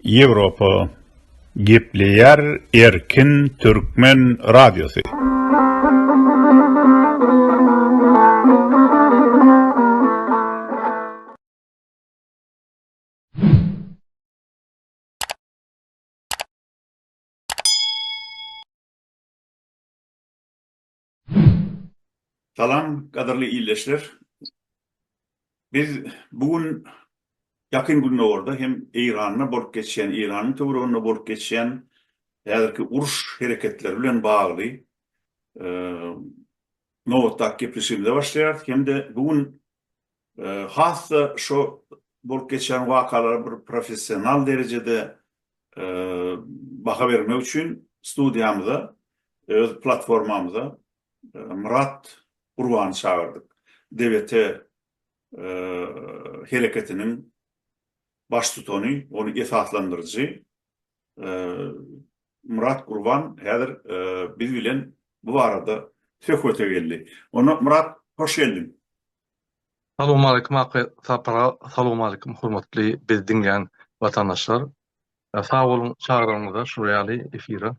Ýewropa gepleýär erkin türkmen radiosy. Salam gadyrly ildeşler. Biz bu gün Ýakyn Gündogarda hem Eýranda bolup geçýän, Eýranyň töwereginde bolup geçýän häzirki uruş hereketleri bilen bagly nobatdaky gepleşigimize başlaýarys hem-de bu gün has-da şo bolup geçýän wakalara bir professional derejede baha bermek üçin studiýamyza, öz platformamyza Myrat Gurbany çagyrdyk. DBT hereketiniň baştutany, ony esaslandyryjy Myrat Gurban häzir biz bilen bu barada söhbete geldi. Onda Myrat, hoş geldiň. Salowmaleýkim Akga Sapar aga, salowmaleýkim hormatly bizi diňleýän watandaşlar. Sag boluň çagranyňyza şular ýaly efire.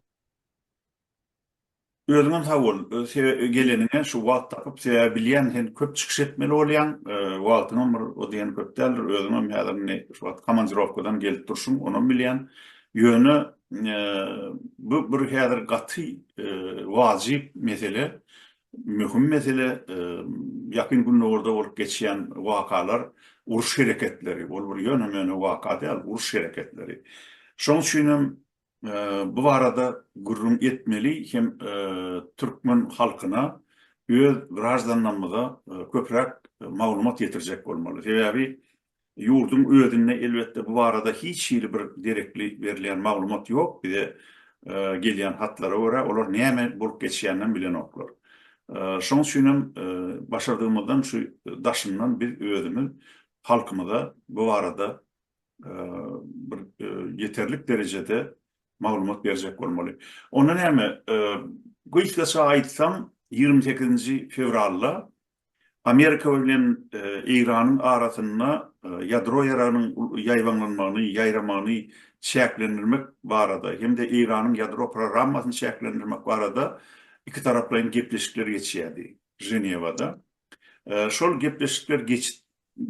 Özüňem sag bol. Sebäbi geleniňe şu wagt tapyp, sebäbi bilýän sen köp çykyş etmeli bolýaň. Wagtyňam bir o diýen köp däldir. Özüňem häzir indi şu wagt komandirowkadan gelip durşuň, onam bilýän. Ýöne bu bir häzir gaty wajyp mesele, möhüm mesele. Ýakyn Gündogarda bolup geçýän wakalar, uruş hereketleri, ol bir ýöne-möne waka däl, uruş hereketleri. Şoň üçinem bu barada gürrüň etmeli hem türkmen halkyna öz graždanlarymyza köpräk maglumat ýetirjek bolmaly. Sebäbi ýurduň özünde elbetde bu barada hiç hili bir derekli berilýän maglumat ýok. Bize gelýän hatlara görä olar näme bolup geçýäninem bilenoklar. Şonuň üçin hem başardygymyzdan şu daşyndan biz özümiz halkymyza bu barada bir ýeterlik derejede maglumat berjek bolmaly. Onda näme? Gysgaça aýtsam, ýigrimi sekizinji fewralda Amerika bilen Eýranyň arasynda ýadro ýaragynyň ýaýbaňlanmagyny, ýaýramagyny çäklendirmek barada hem-de Eýranyň ýadro programmasyny çäklendirmek barada ikitaraplaýyn gepleşikler geçýärdi Ženewada. Şol gepleşikler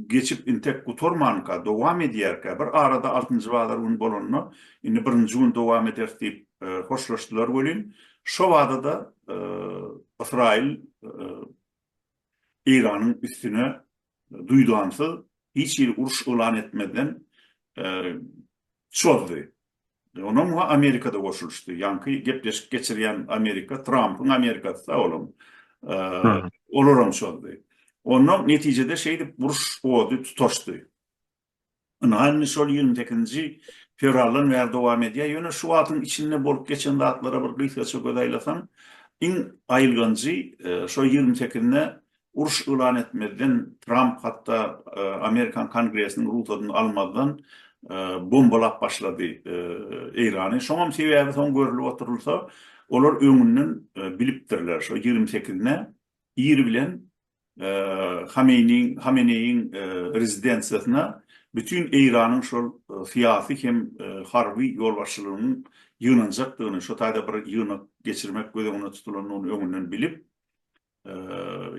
geçip intek gutarmanka dowam edýärkä, bir arada altynjy bazar gün bolanda, indi birinji gün dowam ederis diýip hoşlaşdylar welin, şo bada-da Ysraýyl Eýranyň üstüne duýdansyz, hiç hili uruş yglan etmezden çozdy. Onam muňa Amerikada goşulyşdy. Ýaňky gepleşik geçirýän Amerika, Trampyň Amerikasy sag olam. Olaram şoldy. Onda netijede şeýdip uruş ody tutaşdy. Ynha indi şol ýigrimi sekizinji fewraldan bäri dowam edýär. Ýöne şu wagtyň içinde bolup geçen zatlara bir gysgaça göz aýlasaň, iň aýylganjy şo ýigrimi sekizine Uruş yglan etmezden, Tramp hatda Amerikan Kongresiniň rugsadyny almazdan bombalap başlady Eýrany. Şoňam sebäbi soň görülip oturylsa, olar öňünden bilipdirler, şo ýigrimi sekizine ir bilen Hameneýiň rezidensiýasyna bütin Eýranyň şol syýasy hem harby ýolbaşçylygynyň ýygnanjakdygyny, şo taýda bir ýygnak geçirmek göz öňünde tutulandygyny öňünden bilip,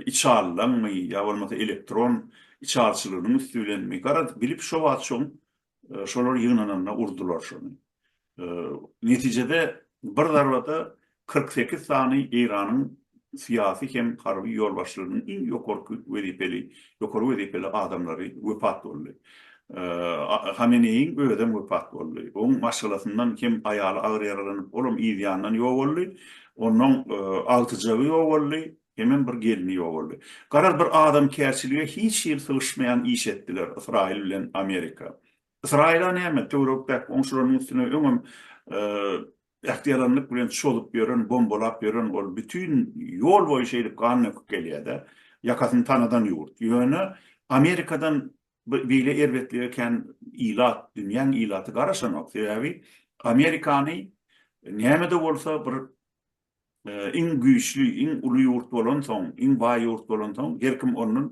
içalydanmy ýa bolmasa elektron içalyçylygynyň üsti bilenmi, garadyp bilip şo wagt şoň şolar ýygnananda urdular şony. Netijede bir zarbada kyrk sekiz sany Eýranyň syýasy hem harby ýolbaşçylarynyň iň ýokarky wezipeli ýokary wezipeli adamlary wepat boldy. Hameneýiň özem wepat boldy. Oň maşgalasyndan hem aýaly agyr ýaralanyp, olam yz ýandan ýok boldy. Onnoň agtyjagy ýok boldy, hemem bir gelni ýok boldy. Garaz bir adamkärçilige hiç hili sygyşmaýan iş etdiler Ysraýyl bilen Amerika. Ysraýyla näme, töwerek-däki goňşularynyň üstüne öňem Ähtiýaranlyk bilen çozup ýören, bombalap ýören ol bütin ýol boýy şeýdip gan döküp gelýär-de, ýakasyny tanadan ýurt. Ýöne Amerikadan beýle erbetlige kän ilat, dünýäň ilaty garaşanok. Sebäbi Amerikany näme-de bolsa bir Iň güýçli, iň uly ýurt bolansoň, iň baý ýurt bolansoň, her kim ondan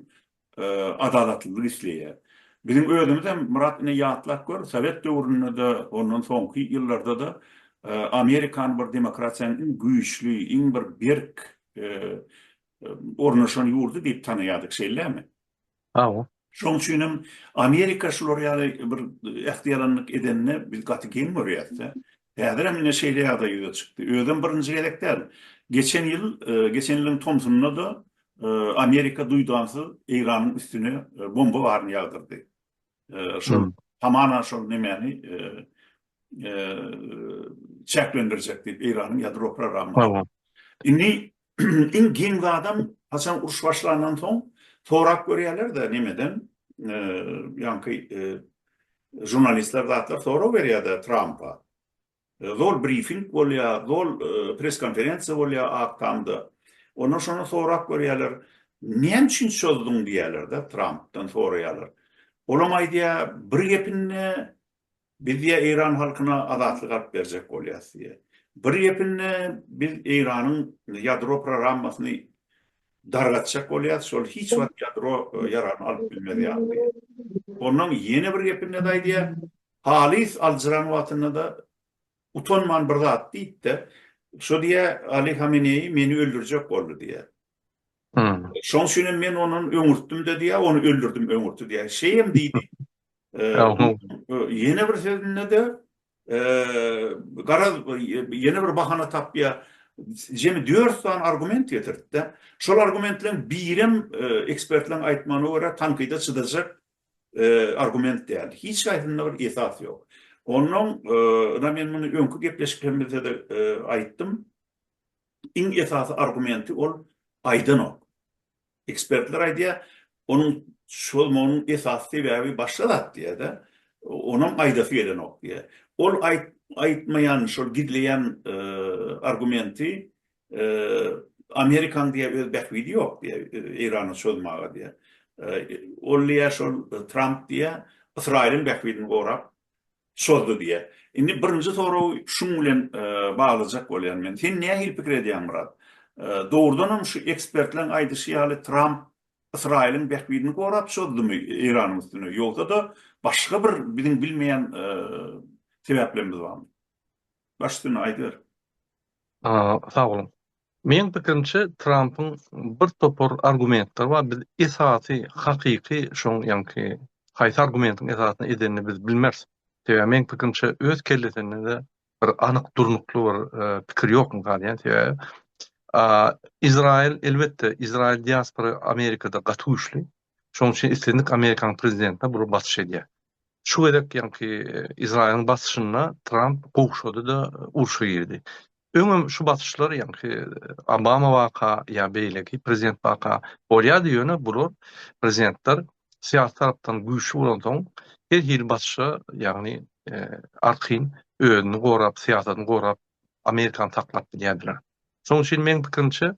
adalatlylyk isleýär. Biziň özümizem, Myrat, ine, ýatlap gör, sowet döwründe-de, ondan soňky ýyllarda-da Amerikany bir demokratiýanyň iň güýçli, iň bir berk ornaşan ýurdy diýip tanaýardyk, şeýlemi? Hawa. Şoň üçin hem Amerika şular ýaly bir ähtiýalanlyk edende biz gaty geň görýäs-de. Häzir hem ine şeýle ýagdaý ýüze çykdy. Özem birinji gezek däl. Geçen ýyl, geçen ýylyň tomsunda-da Amerika duýdansyz Eýranyň üstüne bomba baryny ýagdyrdy. Şol hamana şol nemäni çäklendirjek diýip Eýranyň ýadro programmasyny. Indi Iň giň zadam haçan uruş başlandan soň sorap görýärler-de nemeden, ýaňky žurnalistler zatlar sorag berýär-de Trampa. Zol brifing bolýar, zol pres-konferensiýa bolýar Ak tamda. Onda şonda sorap görýärler, näme üçin çozduň diýýärler-de Trampdan soraýarlar. Olam aýdýar, bir gepinde Biz ýa Eýran halkyna azatlyk alyp berjek bolýas diýýä. Bir gepinde biz Eýranyň ýadro prorammasyny dargatjak bolýas, şol hiç wagt ýadro ýaragyny alyp bilmez ýaly diýýä. Onnoň ýene bir gepinde-de aýdýa, halys aljyran wagtynda-da utanman bir zat diýip-de, şo diýýä, Ali Hameneýi meni öldürjek boldy diýýä. Şoň üçin hem men ondan öňürtdim-de diýýär, ony öldürdim, öňürtdi diýýär. Şeýem diýdi. Ýene bir sözünde-de garaz ýene bir bahana tapýar. Jemi dört sany argument getirdi-de. Şol argumentleriň birem ekspertleriň aýtmagyna görä tankyda çydajak argument däl. Hiç haýsynda bir esas ýok. Ondan men muny öňki gepleşiklerimizde-de aýtdym. Iň esasy argumenti ol aýdanok. Ekspertler aýdýar, onuň çozmagynyň esasy sebäbi başga zat diýýär-de, onam aýdasy gelenok diýýär. Ol aýtmaýan, şol gizleýän argumenti Amerikanyň diýýär öz bähbidi ýok diýýär, Eýrany çozmaga diýýär. Ol diýýär, şol Tramp diýýär, Ysraýylyň bähbidini gorap, Çozdy diýýä. Indi birinji soragy şuň bilen baglajak bolýan men. Sen nähili pikir edýäň Myrat? Dogrudan hem şu ekspertleriň aýdyşy ýaly Tramp Ysraýylyň bähbidini gorap çozdymy Eýranyň üstüne? Ýogsa-da başga bir biziň bilmeýän sebäplerimiz barmy? Baş üstüne aýdyber. Sag boluň. Meň pikirimçe Trampyň bir topar argumentleri bar biz esasy hakyky şoň ýaňky haýsy argumentiň esasyny edenini biz bilmeris. Sebäbi meň pikirimçe öz kellesindede bir anyk durnukly bir pikir ýok galýan sebäbi Izraýyl elbetde Izraýyl diaspora Amerikada gaty güýçli. Şonuň üçin islendik amerikan prezidentine bular basyş edýär. Şu gezek ýaňky Izraýylyň basyşyna Tramp gowşady-da, urşa girdi. Öňem şu basyşlar ýaňky Obama waka ýa beýleki prezident waka bolýardy, ýöne bular prezidentler syýasy tarapdan güýçli bolansoň, her hili basyşa, ýagny arkaýyn özüni gorap, syýasatyny gorap, amerikany saklap bilýärdiler. Şonuň üçin meň pikirimçe,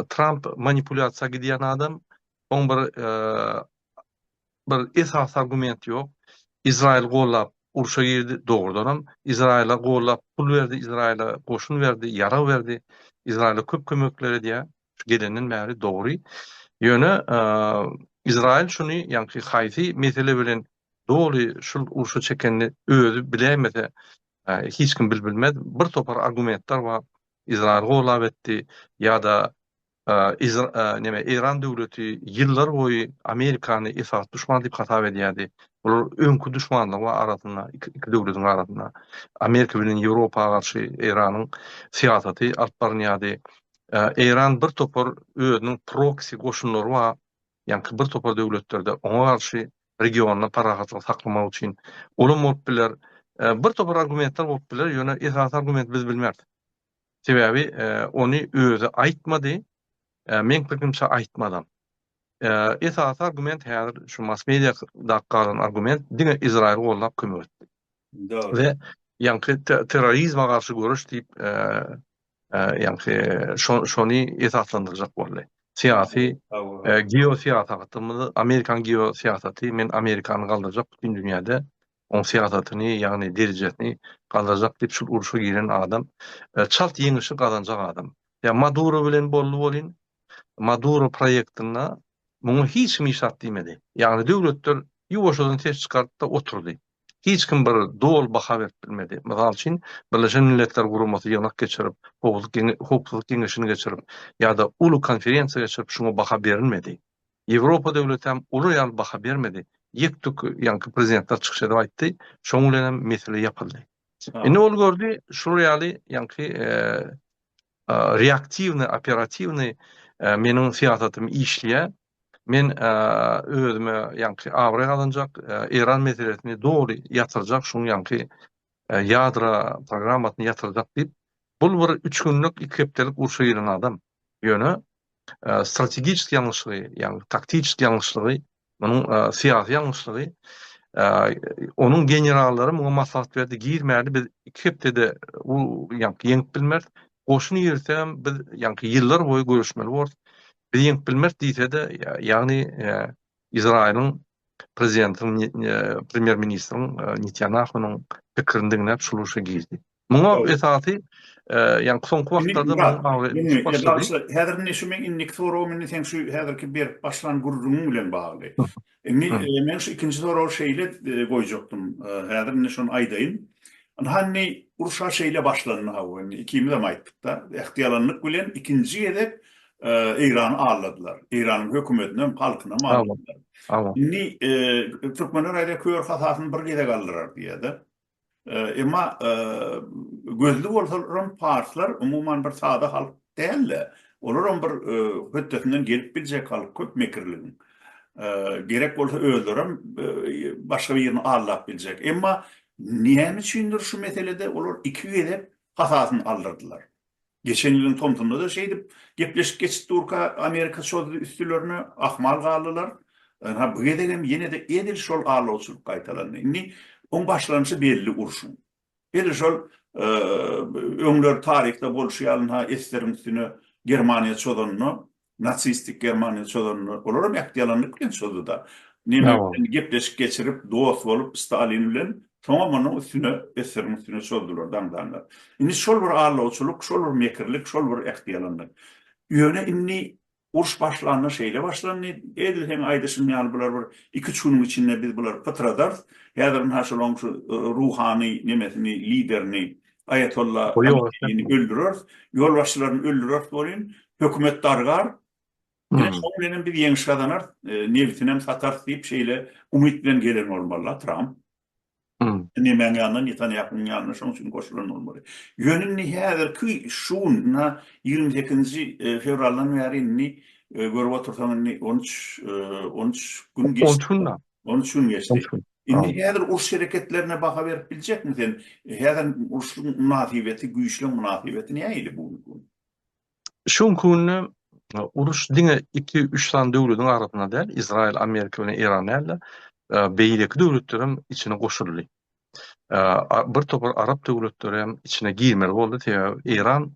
Tramp manipulýasiýa gidýän adam. Oň bir bir esasy argument ýok. Izraýyl gollap urşa girdi, dogrudanam Izraýyla gollap pul berdi, Izraýyla goşun berdi, ýarag berdi. Izraýyla köp kömekler edýär. Gelenden bäri dogry. Ýöne Izraýyl şuny, ýagny haýsy mesele bilen doly şul urşa çekenini özi biläýmese, hiç kim bilbilmez. Bir topar argumentler bar. Izraýyl golap etdi ýa-da neme Eýran döwleti ýyllar boýy Amerikany esasy duşman diýip hasap edýärdi. Bular öňki duşmanlygy bar arasynda iki döwletiň arasynda. Amerika bilen Ýewropa garşy Eýranyň syýasaty alyp barylýardy. Eýran bir topar özüniň proksi goşunlary bar. Ýaňky bir topar döwletlerde oňa garşy regionda parahatlygy saklamak üçin bolan bolup biler. Bir topar argumentler bolup biler, ýöne esasy argumenti biz bilmeris. Sebäbi ony özi aýtmady, meň pikirimçe aýtmazam. Esasy argument häzir şu mass mediada galan argument diňe Izraýyly gollap kömek etdi. Dogry. We ýaňky terrorizme garşy göreş diýip ýagny şony esaslandyrjak boldy. Syýasy, geosyýasatymyzy, Amerikanyň geosyýasaty, men Amerikany galdyrjak bütin dünýäde, oň syýasatyny, ýagny derejesini galdyrjak diýip şul urşa giren adam, çalt ýeňişi gazanjak adam. Ýa Maduro bilen boldy welin, Maduro proýektinde muňa hiç kim hiç zat diýmedi. Ýagny döwletler ýuwaşjadan ses çykaryp-da oturdy. hiç kim bir doly baha berip bilmedi. Mysal üçin, Birleşen Milletler Guramasy ýygnak geçirip, Howpsuzlyk Geňeşini geçirip ýa-da uly konferensiýa geçirip şuňa baha berilmedi. Ýewropa döwleti hem olar ýaly baha bermedi. Ýek-tük ýaňky prezidentler çykyş edip aýtdy, şoň bilen hem mesele ýapyldy. Indi ol gördi, şular ýaly ýaňky reaktiwnyý, operatiwnyý meniň syýasatym işleýär, Men özüme ýaňky abraý gazanjak, Eýran meselesini doly ýatyrjak, şuň ýaňky ýadro programmasyny ýatyrjak diýip, bul bir üç günlük, iki hepdelik urşa giren adam. Ýöne strategiçeski ýalňyşlygy, ýagny taktiçeski ýalňyşlygy, munuň syýasy ýalňyşlygy, onuň generallary muňa maslahat berdi, girmäli, biz iki hepdede ýaňky ýeňip bilmeris, goşun girsem biz ýaňky ýyllar boýy göreşmeli bolarys. Biz ýeňip bilmeris diýse-de, ýagny Izraýylyň prezidentiniň, premýer ministriň Netýanahunyň pikirini diňläp şu urşa girdi. Muňa esasy ýagny soňky wagtlarda Häzir indi şu meň indiki soragym indi seň şu häzirki berip başlan gürrüňiň bilen bagly. Indi men şu ikinji soragy şeýle goýjakdym. Häzir indi şony aýdaýyn. Ynha, uruş-a şeýle başlandy hawa, indi ikimizem aýtdyk-da, ähtiýalanlyk bilen ikinji gezek Eýrany aldadylar. Eýranyň hökümetinem, halkynam aldadylar. Indi türkmenler aýdýar, kör hasasyny bir gezek aldyrar diýýär-de. Emma gözli bolsalarm parslar umuman bir sada halk dälde. Olaram bir hötdesinden gelip biljek halk köp mekirligiň. Gerek bolsa özlerem başga birini aldap biljek. Emma näme üçindir şu meselede olar iki gezek hasasyny aldyrdylar. Geçen ýylyň tomsunda-da şeýdip gepleşik geçip durka Amerika çozdy üstülerine, ahmal galdylar. Ynha bu gezegem ýene-de edil şol allawçylyk gaýtalandy. Indi oň başlanyşy belli urşuň. Edil şol öňler taryhda bolşy ýaly ynha Esteriň üstüne Germaniýa çozanda Nasistik Germaniýa çozanda olar hem ähtiýalanlyk bilen çozdy-da. Nemes bilen gepleşik geçirip, dost bolup, Stalin bilen, soňam onuň üstüne, SSR-iň üstüne çozdular, daňdanlar. Indi şol bir aldawçylyk, şol bir mekirlik, şol bir ähtiýalanlyk. Ýöne indi uruş başlanda şeýle başlandy, edil seň aýdyşyň ýaly bular bir iki-üç günüň içinde biz bulary pytradarys, häzir ynha şolaň şu ruhany nemesini, liderini, Aýatolla Hameneýini öldüreris, ýolbaşçylaryny öldüreris welin, hökümet dargar. Ine, şonuň bilen hem biz ýeňiş gazanarys, nebitinem satarys diýip, şeýle umyt bilen gelen bolmaly-la Tramp. Nemäň ýanyna, Netanýahunyň ýanyna şonuň üçin goşulan bolmaly. Ýöne indi häzirki şu gün, ynha, ýigrimi sekizinji fewraldan bäri indi görüp otursaň, indi on üç, on üç gün geçdi. On üç gün-dä. On üç gün geçdi. Indi häzir uruş hereketlerine baha berip biljekmi sen? Häzir uruşyň mynasybeti, güýçleriň mynasybeti nähili bu günki gün? Şu günki günde uruş diňe iki-üç sany döwletiň arasynda däl, Izraýyl, Amerika bilen Eýran däl-de, beýleki döwletler hem içine goşuldy. Bir topar arap döwletleri hem içine girmeli boldy, sebäbi Eýran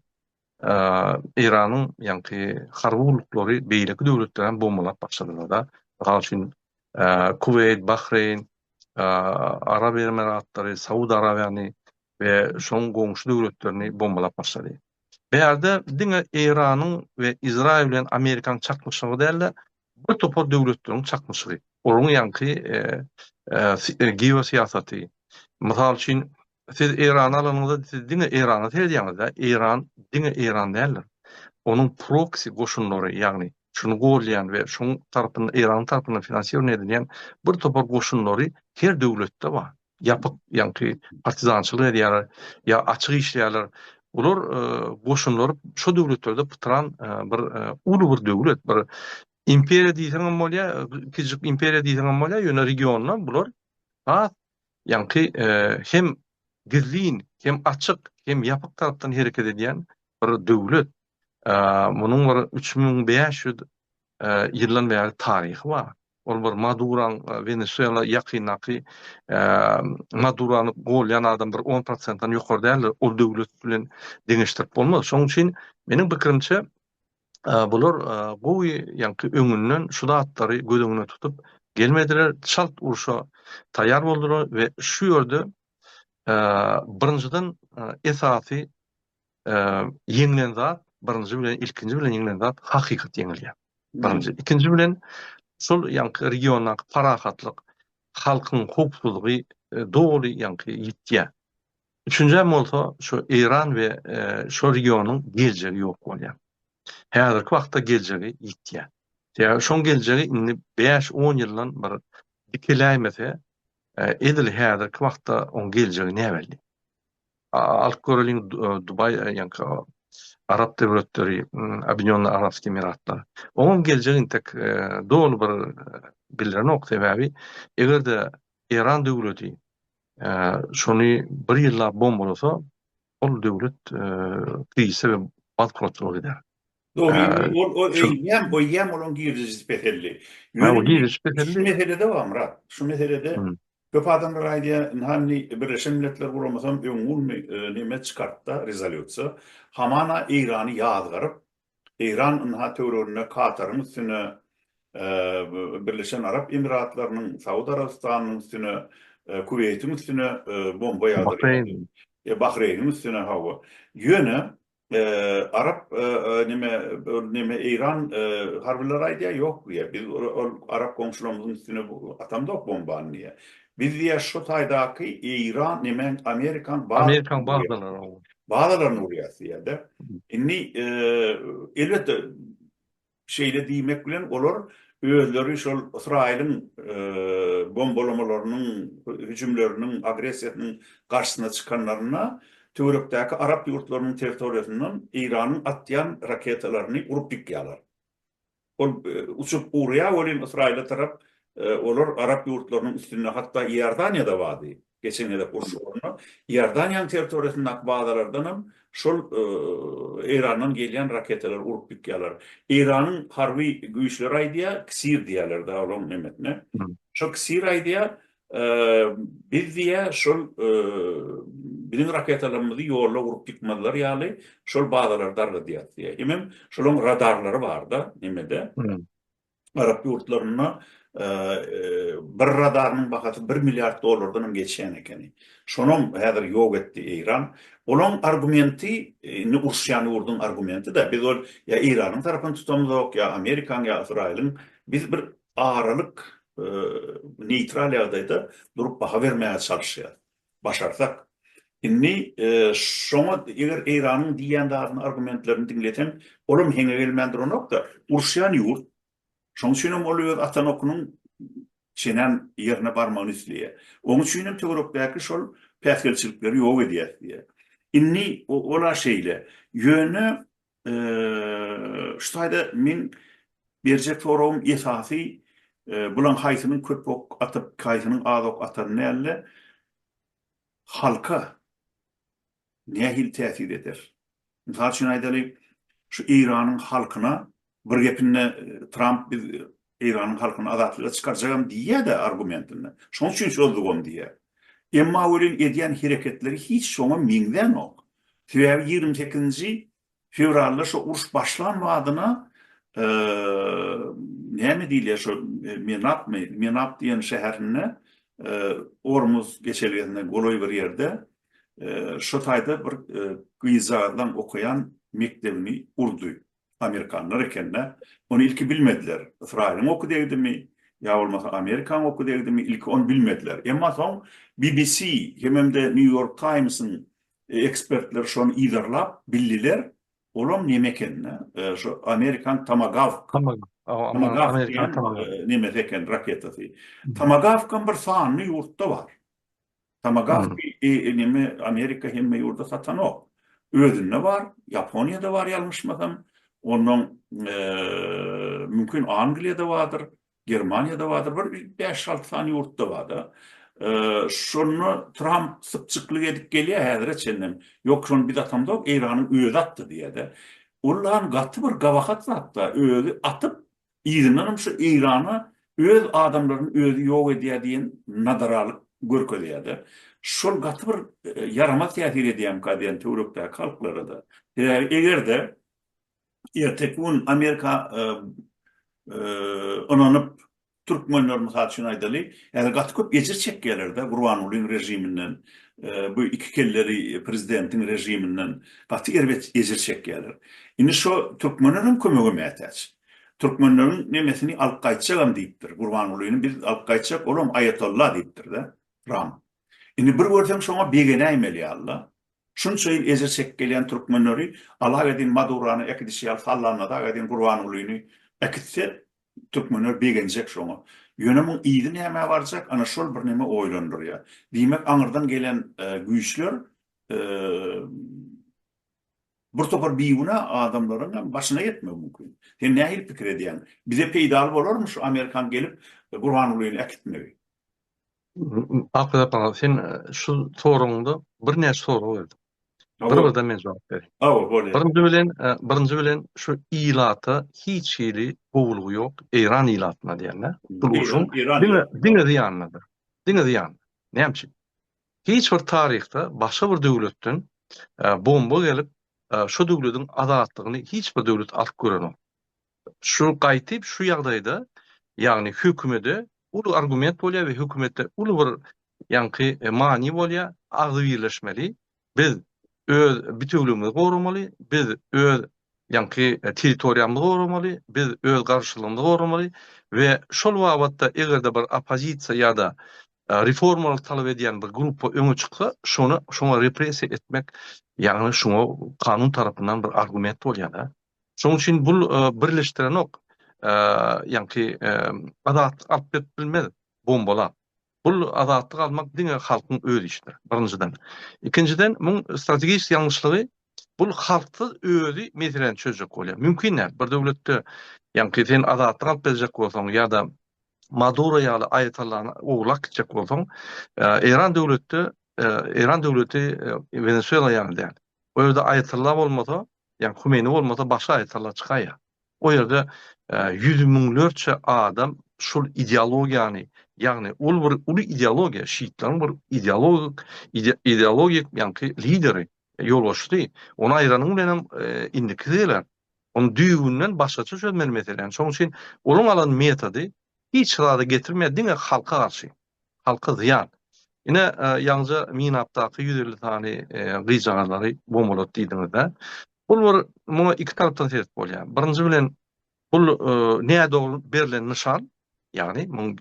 Eýranyň ýaňky harby gulluklary beýleki döwletleri hem bombalap başladylar-da. Mysal üçin, Kuweýt, Bahreýn, Arap Emiratlary, Saud Arabiýany we şonuň goňşy döwletlerini bombalap başlady. Bärde diňe Eýranyň we Izraýyl bilen Amerikanyň çaknyşygy däl-de, Bir topar döwletleriň çaknyşygy, olaryň ýaňky geosyýasaty. Mysal üçin, siz Eýrany alanyňyzda, siz diňe Eýrana seredýäňiz-dä, Eýran diňe Eýran däldir. Onuň proksi goşunlary, ýagny şuny golýan we şonuň tarapyndan, Eýranyň tarapyndan finansirowanie edilýän bir topar goşunlary her döwletde bar. ýapyk ýaňky partizançylyk edýärler ýa açyk işleýärler bular goşunlar şo döwletlerde pytran bir uly bir döwlet bir imperiýa diýseň hem bolýar kiçijik imperiýa diýseň hem bolýar ýöne regionda bular has ýaňky hem gizlin hem açyk hem ýapyk tarapdan hereket edýän bir döwlet Munuň bir üç müň bäş ýüz ýyldan bäri taryhy bar. Ol bir Maduraň Wenesuela ýakyndaky Madurany golýan adam bir on prosentden ýokary däldir. Ol döwlet bilen deňeşdirip bolmaz. Şonuň üçin meniň pikirimçe bular gowy ýaňky öňünden şu zatlary göz öňüne tutup gelmediler. Çalt urşa taýýar boldular we şu ýerde birinjiden esasy ýeňlen zat birinji bilen ilkinji bilen ýeňlen zat hakykat ýeňilýär. Birinji, ikinji bilen şol ýaňky regiondaky parahatlyk, halkyň howpsuzlygy e, doly ýaňky ýitýär. Üçünji bolsa şu Eýran we e, şu regionyň geljegi ýok bolýar. Häzirki wagtda geljegi ýitýär. Ýa şoň geljegi indi 5-10 ýyldan bir dikiläýmese, e, edil häzirki wagtda oň geljegi näbelli. Alyp göreliň Dubai ýaňky Arap döwletleri Abinýonly Arapsky Emiratlar. Oňam geljek intek doly bir bilrenok sebäbi egerde Eýran döwleti şony bir ýyllap bombalasa ol döwlet krize we bankrotluga gider. Dogrymy? Ol o öýdýän, goýýan bolan girdejisi peseldi. Ýöne indi şu meselede bar, Myrat. Şu meselede köp adamlar aýdýar, ynha indi Birleşen Milletler Guramasam öňňulmy neme çykartda, rezolýusiýa. Hamana Eýrany ýazgaryp, Eýran ynha töwereginde Kataryň üstüne, Birleşen Arap Emiratlarynyň, Saud Arabystanynyň üstüne, Kuweýtiň üstüne bomba ýagdyrýar. Bahreýniň üstüne, hawa. Ýöne Arap neme ol neme Eýran harbylary aýdýar ýok diýýär. Biz ol arap goňşularymyzyň üstüne atamzok bombany diýýär. Biz diýýär şu taýdaky Eýran neme Amerikan Amerikan bazalaryny bazalaryny urýas diýýär-de. Indi elbetde Şeýle diýmek bilen, olar özleri şol Ysraýylyň bombalamalarynyň, hüjümleriniň, agressiýasynyň garşysyna çykanlarynda töwerekdäki arap ýurtlarynyň territoriýasyndan Eýranyň atýan raketalaryny urup ýykýarlar. Ol uçup urýar welin Ysraýyla tarap olar arap ýurtlarynyň üstünde, hatda Iordaniýa-da bardy. Geçen gezek uruş ugrunda Iordaniýanyň territoriýasyndaky bazalardan hem şol Eýrandan gelýän raketalary urup ýykýarlar. Eýranyň harby güýçleri aýdýar, KSIR diýýärler dagy olaryň nemesine. Şo KSIR aýdýar, biz diýýär, şol biziň raketalarymyzy ýolda urup ýykmazlar ýaly şol bazalary dargadýarys diýýär. Hemem şolaryň radarlary bar-da, nemede. arap ýurtlarynda bir radarynyň bahasy bir milliard dollardan hem geçýän ekeni. Şonam häzir ýok etdi Eýran. Olaň argumenti, indi uruşýan ýurduň argumenti-de, biz ol ýa Eýranyň tarapyny tutamyzok, ýa Amerikanyň, ýa Ysraýylyň, biz bir aralyk, neýtral ýagdaýda durup baha bermäge çalyşýarys. başarsak. Indi şoňa eger Eýranyň diýýän zadyny argumentlerini diňleseň, olam heňe gelmän duranokda, uruşýan ýurt. Şoň üçin hem ol öz atan okunyň çenän ýerine barmagyny isleýär. Oň üçin hem töwerekdäki şol päsgelçilikleri ýok edýäs diýýär. Indi ol-a şeýle. Ýöne Şu taýda meň berjek soragym esasy bulaň haýsynyň köp ok atyp, haýsynyň az ok atany dälde, halka nähili täsir eder? Mysal üçin aýdaly, şu Eýranyň halkyna bir gepinde Tramp biz Eýranyň halkyny azatlyga çykarjagam diýýä-dä argumentinde. Şoň üçin çozugam diýýä. Emma welin edýän hereketleri hiç şoňa meňzänok. Sebäbi ýigrimi sekizinji fewralda şo uruş başlan badyna näme diýilýär şo Menapmy, Menap diýen şäherinde Ormuz geçelgesine golaý bir ýerde şo taýda bir gyzjagazlaň okaýan mekdebini urdy. Amerikanlar ekende, ony ilki bilmediler. Ysraýylyň oky degdimi, ýa bolmasa Amerikaň oky degdimi, ilki ony bilmediler. Emma soň BBC hemem-de New York Times-iň ekspertleri şony yzarlap bildiler, olam neme ekeni, şu Amerikaň Tomagawk. Tomagawk diýen nemesi eken raketasy. Tomagawkam bir sanly ýurtda bar. Tamagawki enimi Amerika hemme ýurda satanok. Özünde bar, Ýaponiýada bar ýalňyşmasam. Ondan mümkin Angliýada bardyr, Germaniýada bardyr, bir bäş-alty sany ýurtda bar-da. Şony Tramp sypjyklyk edip gelýär häzire çenlem. Ýok, şony biz atamzok, Eýranyň özi atdy diýýär-de. Ol gaty bir gabahat zat-da, özi atyp, Yzyndanam şu Eýrana öz adamlaryny özi ýok edýär diýen nadaralyk görkezýärde. Şol gaty bir ýaramaz täsir edýärmikä diýen töwerekdäki halklara-da. Sebäbi eger-de erteki gün Amerika ynanyp türkmenler mysal üçin aýdaly, häzir gaty köp ejir çekýärler-de Gurbangulyň režiminden, bu iki kelleli prezidentiň režiminden gaty erbet ejir çekýärler. Indi şo türkmenlerem kömege mätäç. Türkmenleriň nemesini alyp gaýtjagam diýipdir. Gurbangulyny biz alyp gaýtjak, olam aýatolla diýipdir-de. Ram. Indi bir görseň şoňa begenäýmeli ýaly-la. Şunça ýyl ejir çekip gelýän türkmenleri alak edin Madurany äkidişi ýaly sallanmasak edin Gurbangulyny äkitse türkmenler begenjek şoňa. Ýöne muň yzy nämä barjak ana şol bir neme oýlandyrýar. Diýmek aňyrdan gelen güýçler Bir topar bigünä adamlaryň hem başyna ýetmegi mümkin. Sen nähili pikir edýäň? Bize peýdaly bolarmy şu amerikan gelip Gurbangulyny äkitmegi? Arkadagym, sen şu soragyňda birnäçe sorag berdiň. Bir-birden men jogap bereýin. Hawa, bolýar. Birinji bilen, birinji bilen şu ilata hiç hili gowulygy ýok, Eýran ilatyna diýende. Diňe, diňe zyýanlydyr. Diňe zyýanly. Näme üçin? Hiç bir taryhda başga bir döwletden bomba gelip şo döwlediň azatlygyny hiç bir döwlet alyp görenok. Şu gaýtyp şu ýagdaýda ýagny hökümede uly argument bolýar we hökümetde uly bir ýaňky many bolýar agzybirleşmeli biz öz bitewligimizi goramaly biz öz ýaňky territoriýamyzy goramaly biz öz garşylygymyzy goramaly we şol babatda egerde bir oppozisiýa ýada reformalary talap edýän bir gruppa öňe çyksa, şony şoňa repressiýa etmek, ýagny şoňa kanun tarapyndan bir argument bolýar-da. Şonuň üçin bul birleşdirenok, ýagny azatlyk alyp berip bilmez bombalap. Bul azatlyk almak diňe halkyň öz işidir, birinjiden. Ikinjiden, muň strategik ýalňyşlygy Bul halksyz özi meseleni çözjek bolýar. Mümkin däl. Bir döwletde ýaňky sen azatlyk alyp berjek bolsaň ýa-da Maduro ýaly aýatallany owlak gitjek bolsaň, Eýran döwletde, Eýran döwleti Wenesuela ýaly däl. O ýerde aýatalla bolmasa, ýaňky Humeýni bolmasa başga aýatalla çykaýýar. O ýerde ýüz müňlerçe adam şul ideologiýany, ýagny ol bir uly ideologiýa, şiitleriň bir ideologik, ideologik ýaňky lideri Ýolbaşçysy, Ony aýranyň bilenem indiki gezegile ony düýbünden başgaça çözmeli meseläni. Şonuň üçin olaň alan metody hiç zada getirmeýär, diňe halka garşy, halka zyýan. Ine, ýaňyja Minapdaky ýüz elli sany gyzjagazlary bombalady diýdiňiz-dä. Bul bir muňa iki tarapdan sebet bolýar. Birinji bilen, Bul nädogry berlen nyşan, ýagny muň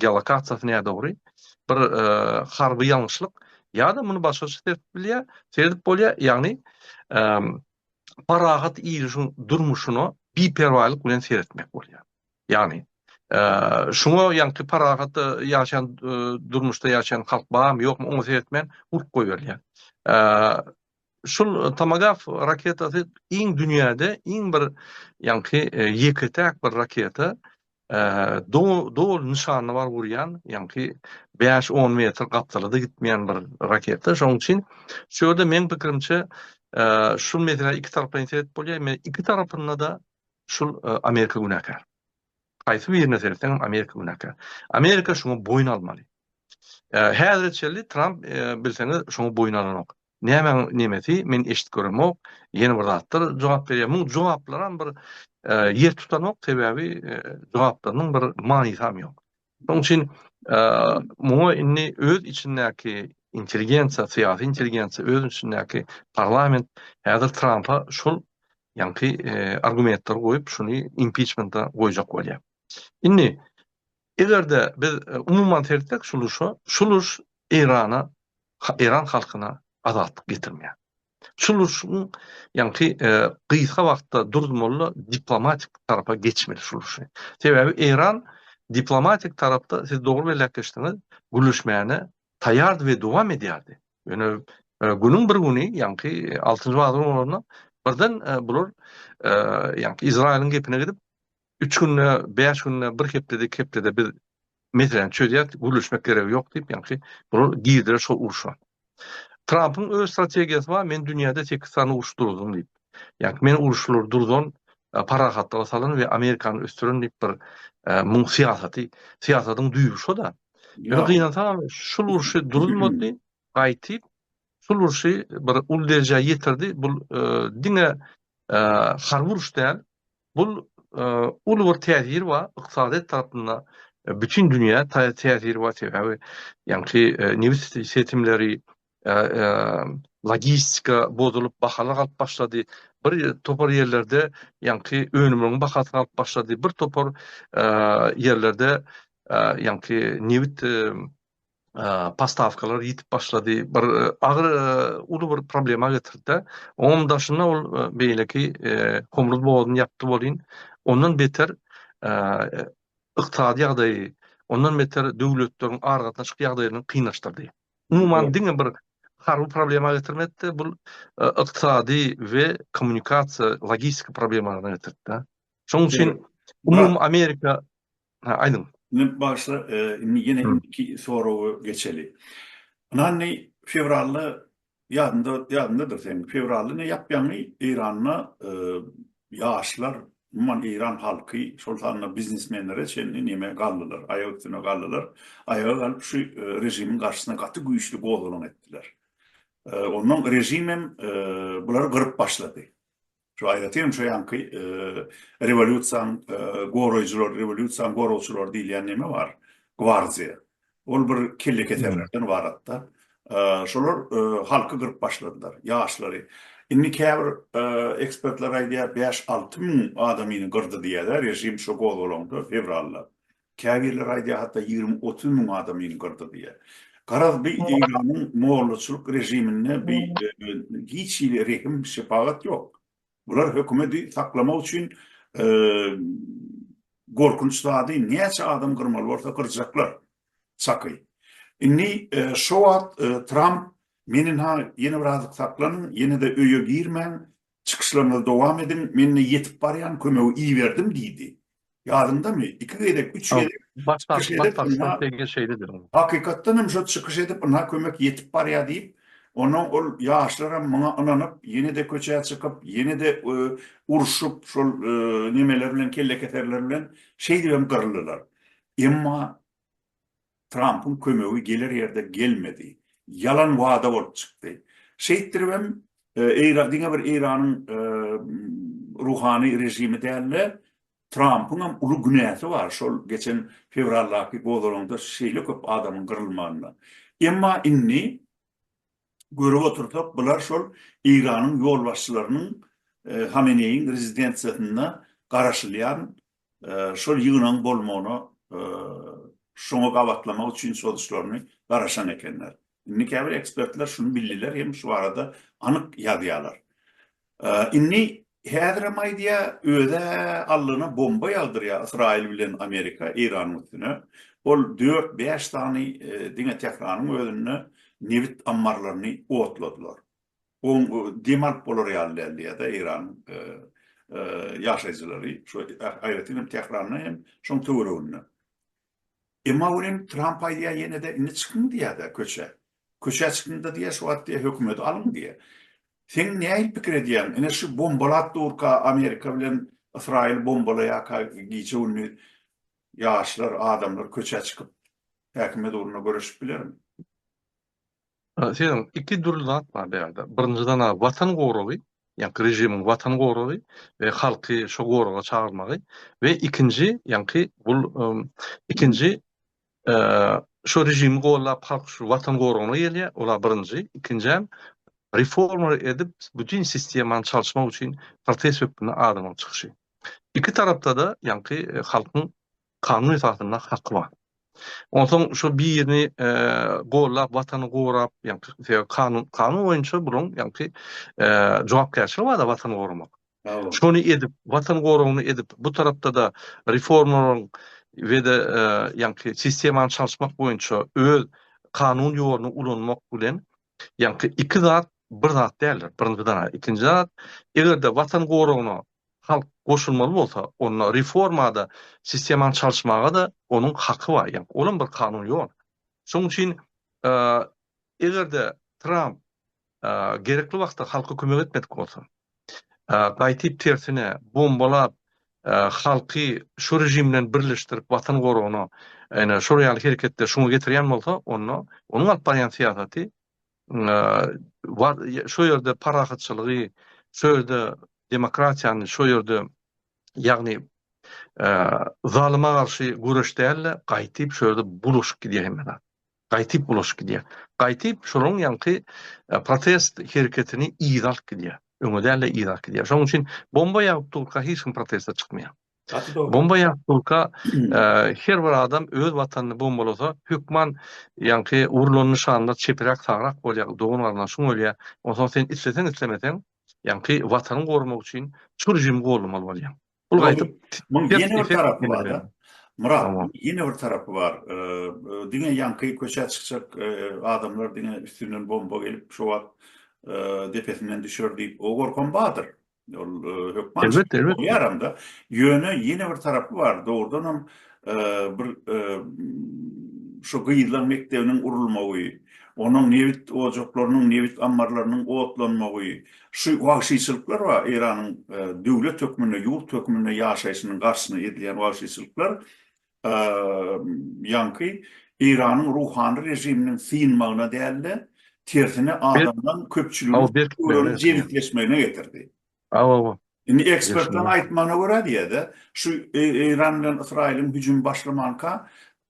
geolokasiýasy nädogry, bir harby ýalňyşlyk ýa-da muny başgaça serdip bilýär, serdip bolýar, ýagny parahat ilişiň durmuşyna biperwaýlyk bilen seretmek bolýar. Ýagny şuňa ýaňky parahat ýaşan durmuşda ýaşan halk barmy, ýokmy oňa seretmän urip goýberilýär. Şul Tomagaf raketasy iň dünýäde iň bir ýaňky ýeke-täk bir raketa doly nyşana baryp urýan ýaňky bäş on metr gapdalada gitmeýän bir raketa şoň üçin şu ýerde meň pikirimçe şul meselä iki taraplaýyn seret bolýar men iki tarapynda da şul Amerika günäkär haýsy birine seretseňem Amerika günäkär Amerika şuňa boýun almaly häzire çenli Tramp bilseňiz şoňa boýun alanok Nämäň nemesi men eşidip göremok ýene bir zatlar jogap berýär muň jogaplaram bir ýer tutanok sebäbi jogaplarynyň bir manysam ýok. Şoň üçin muňa indi öz içindäki intelligensiýa syýasy intelligensiýa öz içindäki parlament häzir Trampa şul ýaňky argumentleri goýup şuny impiçmenta goýjak bolýar. Indi Eger-de biz umuman seretsek şu urşa, şul urş Eýrana, eýran halkyna azatlyk getirmeýär. Şul urşuň ýaňky gysga wagtda durdurmaly diplomatik tarapa geçmeli şul urşy. Sebäbi Eýran diplomatik tarapda siz dogry belläp geçdiňiz, gürleşmäne taýýardy we dowam edýärdi. Ýöne günüň bir güni ýaňky altynjy wagyzlaryň birden bular ýaňky Izraýylyň gepine gidip Üç günde, bäş günde, bir hepdede, iki hepdede biz meseläni çözýäris, gürleşmek geregi ýok diýip, ýagşy, bular girdiler şol urşa. Trampyň öz strategiýasy bar, men dünýäde sekiz sany uruş durdum diýip. Ýagşy, men uruşlary durdan, parahatlyga salan we Amerikany ösdüren diýip bir muň syýasaty, syýasatyň düýbi şo-da. Ýöne gynansaňam şul urşy durulmady, gaýtyp, şul urşy bir uly derejä ýetirdi, bul diňe harby uruş däl, Bul uly bir täsir bar, ykdysadyýet tarapynda bütin dünýä täsir bar, sebäbi ýaňky nebit setimleri, logistika bozulyp, bahalar galyp başlady, bir topar ýerlerde ýaňky önümleriň bahasy galyp başlady, bir topar ýerlerde ýaňky nebit postawkalar ýitip başlady, bir agyr uly bir problema getirdi-de, onuň daşynda ol beýleki Homruz bogazyny ýapdy welin, ondan beter ykdysady ýagdaýy, ondan beter döwletleriň aragatnaşyk ýagdaýlaryny kynlaşdyrdy. Umuman diňe bir harby problema getirmedi-de, bu ykdysady we kommunikasiýa, logistika problemalaryna getirdi-de. Şonuň üçin umumy Amerika aýdyň. Men başda indi ýene indiki soraga geçeli. Ynanny fewralda ýadynda ýadyndadyr seniň fewralda ne ýapýaňy Eýranda ýaşlar umuman Eýran halky şol sanda biznesmenlere çenli neme galdylar aýak üstüne galdylar aýaga galyp şu režimiň garşysyna gaty güýçli gozgalaň etdiler. Ondan režim hem bulary gyryp başlady. Şu aýratyn şu ýanky rewolýusiýaň goraýjylary, rewolýusiýaň goragçylary diýilýän neme bar, gwardiýa. Ol bir kellekeserlerden ybaratda. Şolar halky gyryp başladylar, ýaşlary. Indi käbir ekspertler aýdýar, bäş-alty müň adamyny gyrdy diýýär-ä režim şu gozgalaňda, fewralda. Käbirler aýdýar hatda ýigrimi-otuz müň adamyny gyrdy diýýär. Garaz bi Eýranyň mollaçylyk režiminde bi hiç hili rehim şepagat ýok. Bular hökümedi saklamak üçin gorkunç zady näçe adam gyrmaly bolsa gyrjaklar. Çaky. Indi şo wagt Tramp menin ha ýene bir azyk saklanyň ýene-de öýe girmäň Çykyşlaryňyzy dowam ediň, men-de ýetip barýan kömegi iberdim diýdi. Ýadyňdamy, iki gezek, üç gezek çykyş edip, ynha, hakykatdan hem şo çykyş edip, ynha kömek ýetip barýa diýip, onnoň ol ýaşlaram muňa ynanyp, ýene-de köçä çykyp, ýene-de urşup, şol nemeler bilen, kellekeserler bilen şeýdibem gyryldylar. Emma Trampyň kömegi geler ýerde gelmedi. Ýalan wada bolup çykdy. Şeýtdiribem Eýra diňe bir Eýranyň ruhany režimi däl-de, Trampyňam uly günäsi bar şol geçen fewraldaky gozalaňda şeýle köp adamyň gyrylmagynda. Emma indi görüp otursak, bular şol Eýranyň ýolbaşçylarynyň Hameneýiň rezidensiýasynda garaşylýan şol ýygnagyň bolmagyna şoňa gabatlamak üçin çozuşlaryny garaşan ekenler. Indi käbir ekspertler şuny bildiler hem şu barada anyk ýazýarlar. Indi häzir hem aýdýar, öze allyna bomba ýagdyrýar Ysraýyl bilen Amerika Eýranyň üstüne. Ol dört-bäş sany diňe Tähranyň özünde nebit ammarlaryny otladylar. Goň dem alyp bolar ýaly däl diýýärda Eýranyň ýaşaýjylary, şu aýratyn hem Tähranda hem şoň töwereginde. Emma welin Tramp aýdýar ýene-de indi çykyň diýýärda köçä. Köçä çykyňda diýýär şu wagt diýýär hökümeti alyň diýýär. Seň nähili pikir edýäň ine şu bombalap durka Amerika bilen Ysraýyl bombalaýarka gije gündiz ýaşlar adamlar köçä çykyp häkimiýet ugruna göreşip bilermi? Seýrem, iki dürli zat bar bu ýerde. Birinjiden-ä Watan goragy, ýaňky režimiň Watan goragy we halky şo goraga çagyrmagy we ikinji, ýaňky bul ikinji şo režimi gollap halk şu Watan goragyna gelýär, ol-a birinji, ikinjäm reforma edip bütin sistemany çalyşmak üçin protest hökmünde adamyň çykyşy. Iki tarapda-da ýaňky halkyň Kanun esasynda haky bar. Onsoň şo birini gollap watany gorap, ýagny kanun kanun boýunça bulaň ýagny jogapkärçiligi bar-da watany goramak. Şony edip, watan goragyny edip, bu tarapda-da reformalaryň we-de ýagny sistemany çalyşmak boýunça öz kanun ýoluny ulanmak bilen Ýaňky iki zat bir zat däldir. Birinji zat, ikinji zat, eger-de Watan goragyna halk goşulmaly bolsa, onda reformada sistemany çalyşmaga-da onuň haky bar. Ýa olam bir kanun ýol. Şonuň üçin eger-de Tramp gerekli wagtda halka kömek etmedik bolsa, Gaýtyp tersine, bombalap, halky şu režim bilen birleşdirip watan goragyna, ene, şol ýaly hereketler şuňa getirýän bolsa, onda onuň alyp barýan syýasaty şu ýerde parahatçylygy, şu ýerde demokratiýany, şu ýerde, ýagny, zalyma garşy göreş däl-de, gaýtyp şu ýerde bulaşyp gidýär hemme zat. gaýtyp ulaşyp gidýär. Gaýtyp şolaryň ýaňky protest hereketini yza alyp gidýär. Öňe däl-de yza alyp gidýär. Şonuň üçin bomba ýagyp durka hiç kim proteste çykmaýar. Bomba ýagyp durka her bir adam öz watanyny bombalasa hökman ýaňky urlan nyşanlar çepiräk sagrak bolýar, dogan-garyndaşyň ölýär. Onsoň sen isleseň islemeseň ýaňky watanyň gormak üçin şu režimi goldamaly bolýaň. Bul gaýdyp Muň ýene bir tarapy bar-da. Myrat, ýene bir tarapy bar. Diňe ýaňky köçä çykjak adamlar diňe üstünden bomba gelip, şo wagt depesinden düşer diýip, o gorkam bardyr. Ol hökman bolýaram-da. Ýöne ýene bir tarapy bar. Dogrudan hem bir şu gyzlaň mekdebiniň urulmagy, onuň nebit ojaklarynyň, nebit ammarlarynyň otlanmagy, Şu wagşyçylyklar we Eýranyň döwlet hökmünde, ýurt hökmünde ýaşaýşynyň garşysyna edilýän wagşyçylyklar ýaňky Eýranyň ruhany režiminiň synmagyna däl-de, tersine adamdan köpçüligiň jebisleşmegine getirdi. Hawa, hawa. Indi ekspertleriň aýtmagyna görä diýýär-de, şu Eýran bilen Ysraýylyň hüjümi başlamanka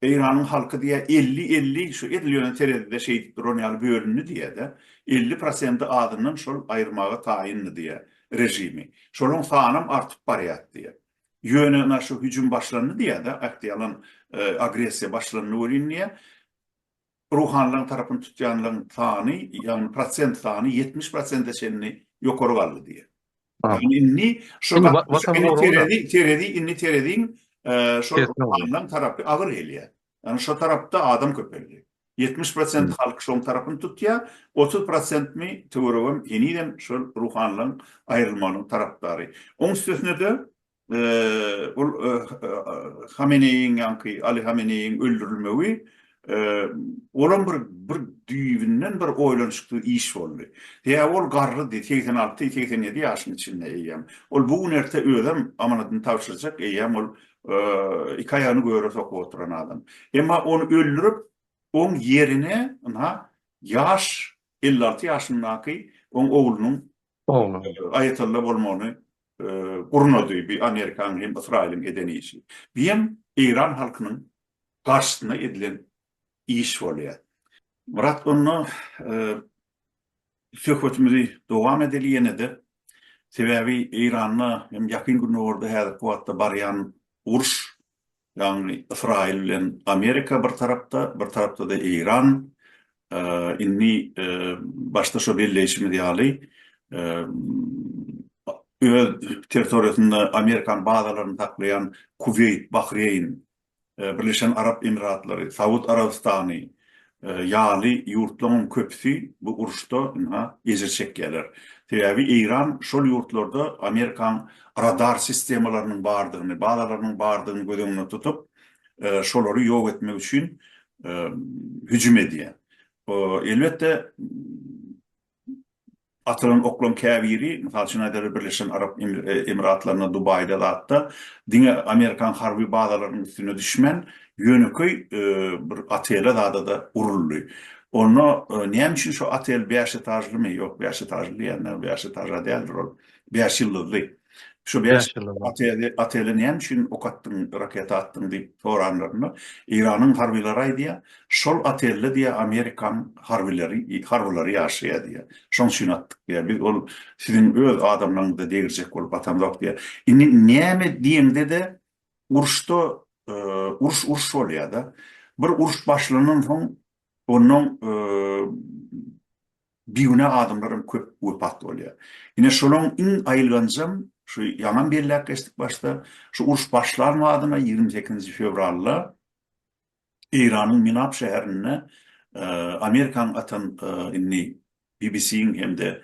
Eýranyň halky diýýär elli-elli şu edil ýöne terezide şeýdip duran ýaly bölündi diýýär-de, elli prosenti azyndan şol aýyrmaga taýyndy diýýär režimi. Şolaryň sanam artyp barýar diýýär. Ýöne ynha şu hüjüm başlandy diýýär-de, aktiýalan agressiýa başlandy welin diýýär. Ruhanylaryň tarapyny tutýanlaryň sany, ýagny prosent sany ýetmiş prosente çenli ýokary galdy diýýär. Ýagny indi şu terezi indi tereziň şol ruhanylaryň tarapy agyr gelýär. Ýagny şu tarapda adam köpeldi. Ýetmiş prosent halk şoň tarapyny tutýar, otuz prosentmi töweregem henizem şol ruhanylaryň aýrylmagynyň tarapdary. Oň üstesine-de Ol Hameneýiň ýaňky Aly Hameneýiň öldürilmegi olam bir bir düýbünden bir oýlanyşyksyz iş boldy. Sebäbi ol garrydy, segsen alty, segsen ýedi ýaşyň içinde eýýäm. Ol bu gün erte özem amanadyny tabşyrjak, eýýäm ol iki aýagyny göre sokup oturan adam. Emma ony öldürip, oň ýerine ynha ýaş elli alty ýaşyndaky oň oglunyň Aýatalla bolmagyny gurnady, bi Amerikanyň hem Ysraýylyň eden işi. Biýem Eýran halkynyň garşysyna edilen iş bolýa. Myrat onda söhbetimizi dowam edeli ýenede. Sebäbi Eýranda hem Ýakyn Gündogarda häzirki wagtda barýan uruş Ýagny Ysraýyl bilen Amerika bir tarapda, bir tarapda-da Eýran. Indi başda şo belleýşimiz ýaly, öz territoriýasynda amerikan bazalaryny saklaýan Kuweýt, Bahreýn, Birleşen Arap Emiratlary, Saud Arabystany, ýaly ýurtlaryň köpüsi bu uruşda ynha ejir çekýärler. Sebäbi Eýran şol ýurtlarda Amerikaň radar sistemalarynyň bardygyny, bazalarynyň bardygyny göz öňünde tutup, şolary ýok etmek üçin hüjüm edýär. Elbetde Atylan oklaň käbiri, mysal üçin aýdaly, Birleşen Arap Emiratlarynda, Dubaýda zatda diňe amerikan harby bazalarynyň üstüne düşmän, ýönekeý bir otele zada-da uruldy. Onda näme üçin şo otel bäş etažlymy, ýok, bäş etažly diýýän, bäş etaža däldir ol, bäş ýyldyzly. Şu bäş ýyl oteli näme üçin ok atdyň, raketa atdyň diýip soranlarynda, Eýranyň harbylary aýdýar, şol otelde diýýär, Amerikanyň harbyleri, harbylary ýaşaýar diýýär. Şonuň üçin atdyk diýýär. Biz ol siziň öz adamlaryňyza degirjek bolup atamzok diýýär. Indi näme diýeňde-de, uruşda uruş uruş bolýar-da. Bir uruş başlandan soň Onnoň bigünä adamlar hem köp wepat bolýar. Ine şolaň iň aýylganjam, şu ýaňam belläp geçdik başda, şu uruş başlan badyna ýigrimi sekizinji fewralda Eýranyň Minap şäherinde Amerikanyň atan indi BBC-iň hem-de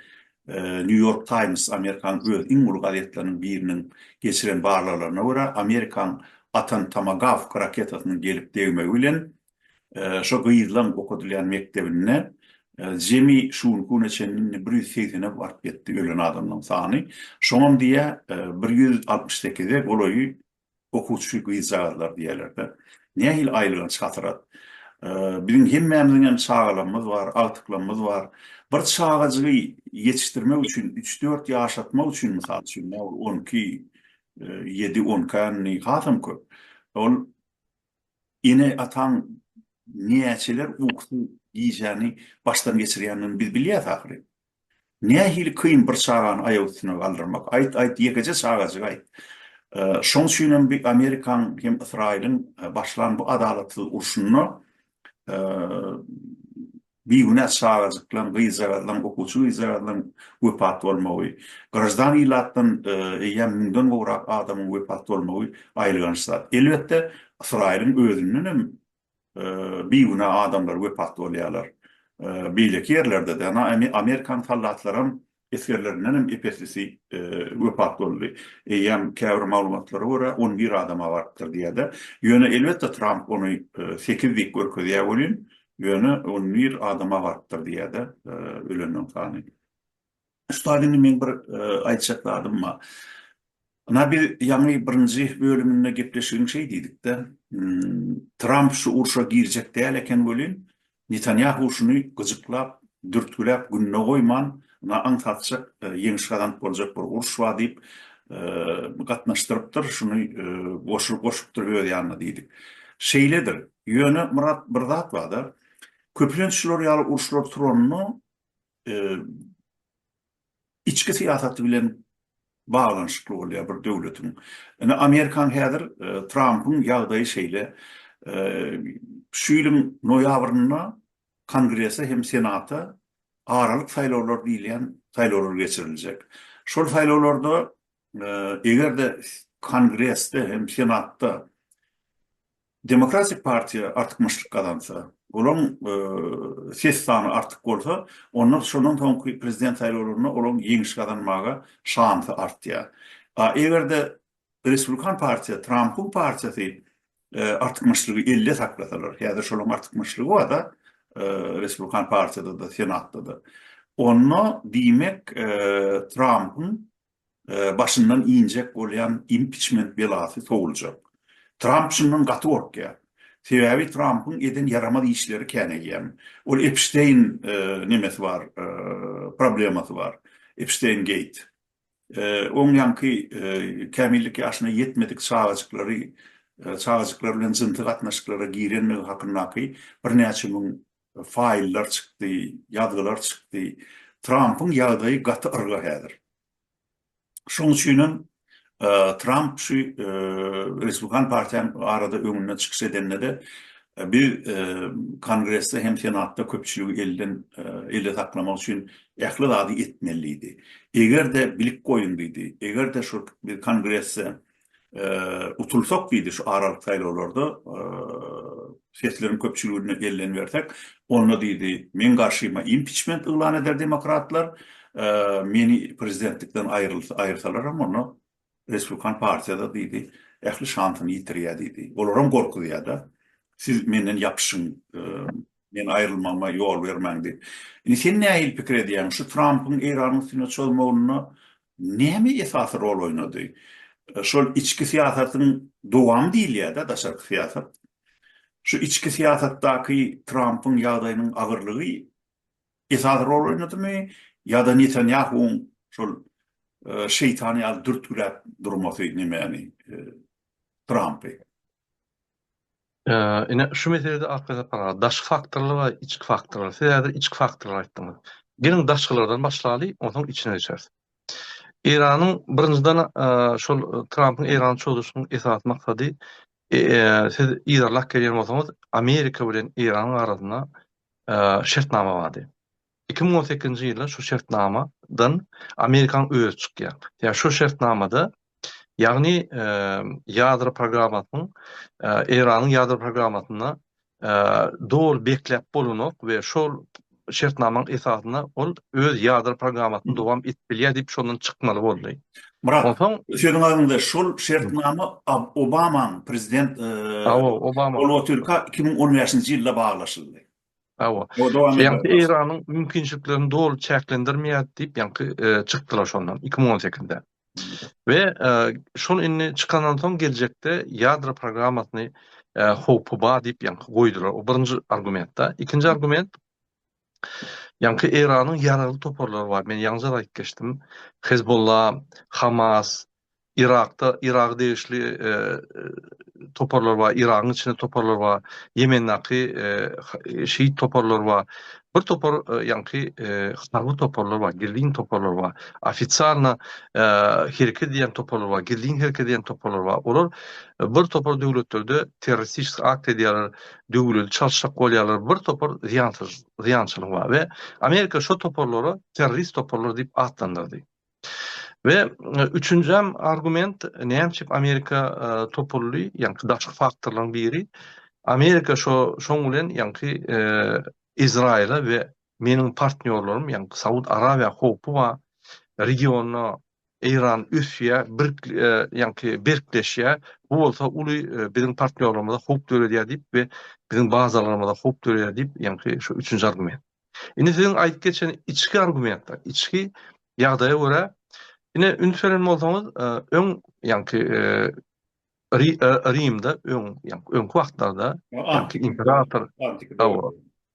New York Times, Amerikanyň öz iň uly gazetleriniň biriniň geçiren barlaglaryna görä, Amerikanyň atan Tomagawk raketasynyň gelip degmegi bilen, şo gyzlaň okadylýan mekdebinde jemi şu günki güne çenli indi bir ýüz segsene baryp ýetdi ölen adamlaryň sany. Şoňam diýýär, bir ýüz altmyş sekize golaýy okuwçy gyzjagazlar diýerler-de. Nähili aýylganç hasyrat. Biziň hemmämiziňem çagalarymyz bar, agtyklarymyz bar. Bir çagajygy ýetişdirmek üçin, üç-dört ýaşatmak üçin, mysal üçin, nä boldy, on iki, ýedi, on iki änni hasam köp. Ol ene-ataň näçeler ukusy gijäni başdan geçirýändigini biz bilýäs ahyryn. Nähili kyn bir çagany aýak üstünde galdyrmak. Aýt, aýt, ýekeje çagajyk aýt. Şoň üçin hem bi Amerikaň hem Ysraýylyň başlan bu adalatsyz urşunda bigünä çagajyklaň, gyzjagazlaň, okuwçy gyzjagazlaň wepat bolmagy, graždan ilatdan eýýäm müňden gowrak adamyň wepat bolmagy aýylganç zat. Elbetde, Ysraýylyň özünden hem bigünä adamlar wepat bolýarlar. Beýleki ýerlerde-de, ynha, amerikan soldatlaram, esgerlerindenem ep-eslisi wepat boldy. Eýýäm käbir maglumatlara görä, on bir adama barypdyr diýýär-de. Ýöne, elbetde, Tramp ony sekiz diýip görkezýär welin, ýöne on bir adama barypdyr diýýär-de, ölenleriň sany. Ussat indi meň bir aýtjak zadym bar. Ynha biz ýaňy birinji bölüminde gepleşigiň şeý diýdikde, Tramp şu urşa girjek däl eken welin, Netanýahu şuny gyjyklap, dürtgüläp gününe goýman, ynha aňsatjak ýeňiş gazanyp boljak bir uruş bar diýip, gatnaşdyrypdyr, şuny goşupdyr öz ýanyna diýdik. Şeýledir. Ýöne Myrat bir zat bar-da, köplenç şular ýaly uruşlar turanda içki syýasaty bilen baglanyşykly bolýar bir döwletiň. Indi Amerikan häzir Trampyň ýagdaýy şeýle, şu ýylyň noýabrynda Kongrese hem Senata aralyk saýlawlar diýilýän saýlawlar geçiriljek. Şol saýlawlarda eger-de Kongresde hem Senatda Demokratik partiýa artykmaçlyk gazansa, olaryň ses sany artyk bolsa, onda şondan soňky prezident saýlawlarynda olaryň ýeňiş gazanmaga şansy artýar. A eger-de respublikan partiýa, Trampyň partiýasy artykmaçlygy elde saklasalar, häzir şolaryň artykmaçlygy bar-da, respublikan partiýada-da, senatda-da, onda diýmek Trampyň başyndan injek bolýan impiçment belasy sowuljak. Tramp şundan gaty gorkýar. Sebäbi Trampyň eden ýaramaz işleri käneýýäm. Ol Epşteýn nemesi bar, problemasy bar, Epşteýngeit. Oň ýaňky kämillik ýaşyna ýetmedik çagajyklary, çagajyklar bilen jynsy gatnaşyklara girenligi hakyndaky birnäçe müň faýllar çykdy, ýazgylar çykdy. Trampyň ýagdaýy gaty yrga häzir. Şoň üçin hem Tramp şu Respublikan partiýanyň barada öňünde çykyş edende-de biz Kongresde hem Senatda köpçüligi elden elde saklamak üçin ähli zady etmeli diýdi. Eger-de bilik goýun diýdi, eger-de şu Kongresde utulsak diýdi şu aralyk saýlawlarda sesleriň köpçüligine ellen bersek onda diýdi meň garşyma impiçment yglan eder demokratlar meni prezidentlikden aýrylsa aýyrsalar hem onda respublikan partiýada diýdi ähli şansyny ýitirýär diýdi olaram gorkuzýar da siz menden ýapyşyň Meň aýrylmagyma ýol bermäň diýip. Indi sen nähili pikir edýäň? Şu Trampyň Eýranyň üstüne çozmagynda näme esasy rol oýnady? Şol içki syýasatyň dowamy diýilýär-dä, daşarky syýasat. Şu içki syýasatdaky Trampyň ýagdaýynyň agyrlygy esasy rol oýnadymy ýa-da Netanýahuwyň şol şeýtan ýaly dürtgüläp durmasy nemäni, Trampy? Ine, şu meselede Arkadepara daşky faktorlar we içki faktorlar. Siz häzir içki faktorlar aýtdyňyz. Geliň daşkylardan başlaly, onsoň içine geçeris. Eýranyň birinjiden şol Trampyň Eýrana çozuşynyň esasy maksady siz yzarlap gelýän bolsaňyz, Amerika bilen Eýranyň arasynda şertnama bardy. Iki müň on sekizinji ýylda şu şertnama dan Amerikan özi çykýar. Ýa şu şertnamada ýagny ýadro programmasynyň Eýranyň ýadro programmasyna doly bekläp bolanok we şol şertnamaň esasynda ol öz ýadro programmasyny dowam edip bilýär diýip şondan çykmaly boldy. Murat, onsoň sözüň aňynda şol şertnama Obamaň prezident Obama iki müň on bäşinji ýylda baglaşyldy. Hawa. Ýagny Eýranyň mümkinçiliklerini doly çäklendirmeýär diýip ýaňky çykdylar şondan 2018-de. We şol indi çykandan soň geljekde ýadro programmasyny howpy bar diýip ýaňky goýdular. O birinji argumentda. Ikinji argument ýaňky Eýranyň ýaragly toparlary bar. Men ýaňyja aýdyp geçdim. Hezbollah, Hamas, Yrakda Yraga degişli toparlar bar, Yragyň içinde toparlar bar, Ýemendäki şiit toparlar bar. Bir topar ýaňky harby toparlar bar, gizlin toparlar bar. Ofisialna hereket edýän toparlar bar, gizlin hereket edýän toparlar bar. Olar bir topar döwletlerde terroristiki akt edýärler, döwleti çalşak bolýarlar. Bir topar zyýansyz, zyýançylygy bar we Amerika şo toparlary terrorist toparlar diýip atlandyrdy. We üçünjäm argument näme üçin Amerika topuldy, ýaňky daşky faktorlaryň biri Amerika şo şoň bilen ýaňky Izraýyla we meniň partnýorlarym ýaňky Saud Arabiýa howpy bar, regionda Eýran ösýä bir ýaňky berkleşýä bu bolsa uly biziň partnýorlarymyza howp döredýär diýip we biziň bazalarymyza howp döredýär diýip ýaňky şu üçünji argument. Indi siziň aýdyp geçen içki argumentler, içki ýagdaýa görä, ine üns beren bolsaňyz, e, öň ýaňky e, e, Rimde öň ýaňky öňki wagtlarda ýaňky imperator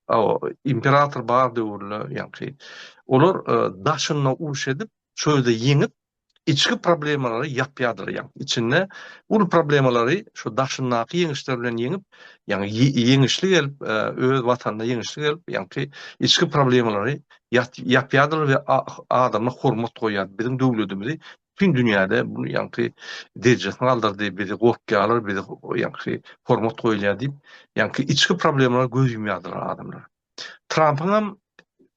Awa, imperator bar döwürler, ýaňky olar daşynda uruş edip, çölde ýeňip, içki problemalary ýapýardyr ýaň içinde uly problemalary şu daşyndaky ýeňişler bilen ýeňip ýaňy ýeňişli gelip öz watanynda ýeňişli gelip ýaňky içki problemalary ýapýardyr we adama hormat goýýar biziň döwledimizi bütün dünýäde bu ýaňky derejesini galdyrdy, bizi gorkýarlar, bizi ýaňky hormat goýulýar diýip, ýaňky içki problemalar göz ýumýardylar adamlar. Trampyňam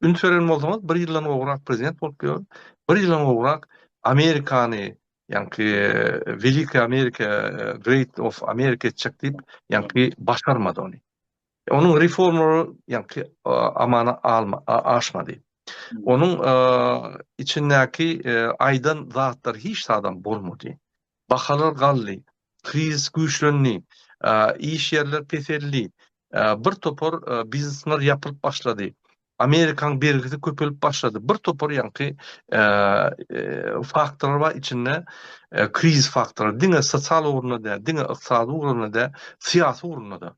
üns beren bolsaňyz, bir ýyldan gowrak prezident bolup ýör. Bir ýyldan gowrak Amerikany, ýaňky Welikiý Amerika, Great of Amerika etjek diýip, ýaňky başarmady ony. Onuň reformalary ýaňky amana aşmady. Onuň içindäki aýdan zatlary hiç zadam bolmady. Bahalar galdy, krizis güýçlendi, iş ýerler peseldi, bir topar biznesler ýapylyp başlady, Amerikaň bergisi köpelip başlady, bir topar ýaňky faktorlar bar içinde krizis faktorlar, diňe sosial ugrunda däl, diňe ykdysady ugrunda däl, syýasy ugrunda-da.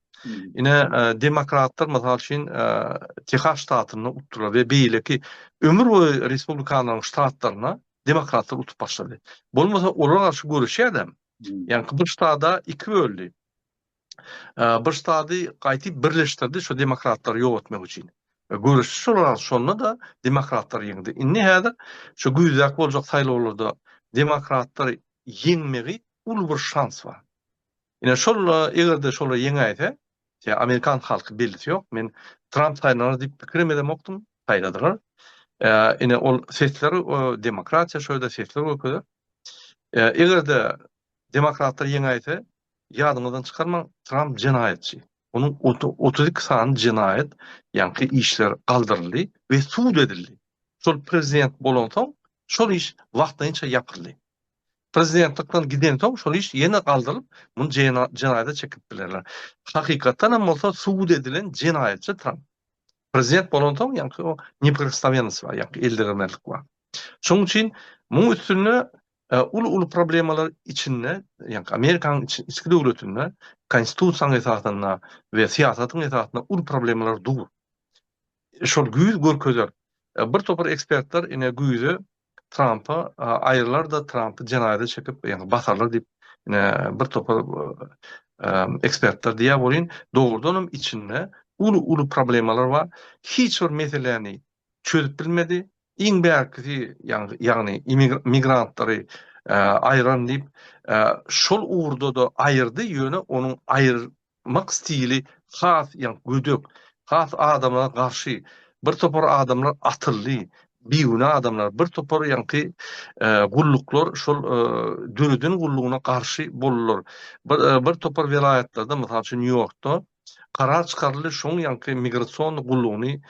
Ine, demokratlar mysal üçin Tehas ştatynda utdular we beýleki ömür boýy respublikanlaryň ştatlaryna demokratlar utup başlady. Bolmasa olara garşy göreşýädem. Ýaňky bir ştada iki böldi. Bir ştady gaýtyp birleşdirdi şu demokratlary ýok etmek üçin. E, göreşdi şolar şonda da demokratlar ýeňdi. Indi häzir şu güýzäk boljak saýlawlarda demokratlar ýeňmegi uly bir şans bar. Ine şolla eger-de şolar ýeňäýse, ýa amerikan halky bellisi ýok. Men Tramp saýlanar diýip pikirim edemokdym, saýladylar. Ine ol sesler demokratiýa şo ýerde sesler görkezer. Eger-de demokratlar ýeňäýse, ýadyňyzdan çykarmaň, Tramp jenaýatçy. Onuň 32 sany jenaýat ýaňky işler galdyryldy we sud edildi. Şol prezident bolansoň, şol iş wagtlaýynça ýapyldy. Prezidentlikden gidensoň şol iş ýene galdyrylyp, muny jenaýata çekip bilerler. Hakykatdan hem bolsa subut edilen jenaýatçy Tramp. Prezident bolansoň ýaňky o neprikosnowennost bar, ýaňky eldiregmezlik bar. Şonuň üçin muň üstünde e, uly-uly problemalar içinde, ýaňky Amerikanyň içki döwletinde konstitusiýanyň esasynda we syýasatyň esasynda uly problemalar dur. Şol güýz görkezer. E, bir topar ekspertler ine güýze Trampa aýyrlar-da, Trampy jenaýada çekip, ýagny basarlar diýip, ine, bir topar ekspertler diýýär welin, dogrudan hem içinde uly-uly problemalar bar. Hiç bir meseläni çözüp bilmedi. Iň bärkisi, ýagny migrantlary aýyraryn diýip, şol ugurda-da aýyrdy, ýöne onuň Mak stili has ýaňk gödek, has adamlara garşy, bir topar adamlar atyldy, bigünä adamlar, bir topar ýaňky gulluklar şol döreden gullugyna garşy boldylar. Bir topar welaýatlarda, mysal üçin Nýu Ýorkda karar çykaryldy şoň ýaňky migrasionny gullugyny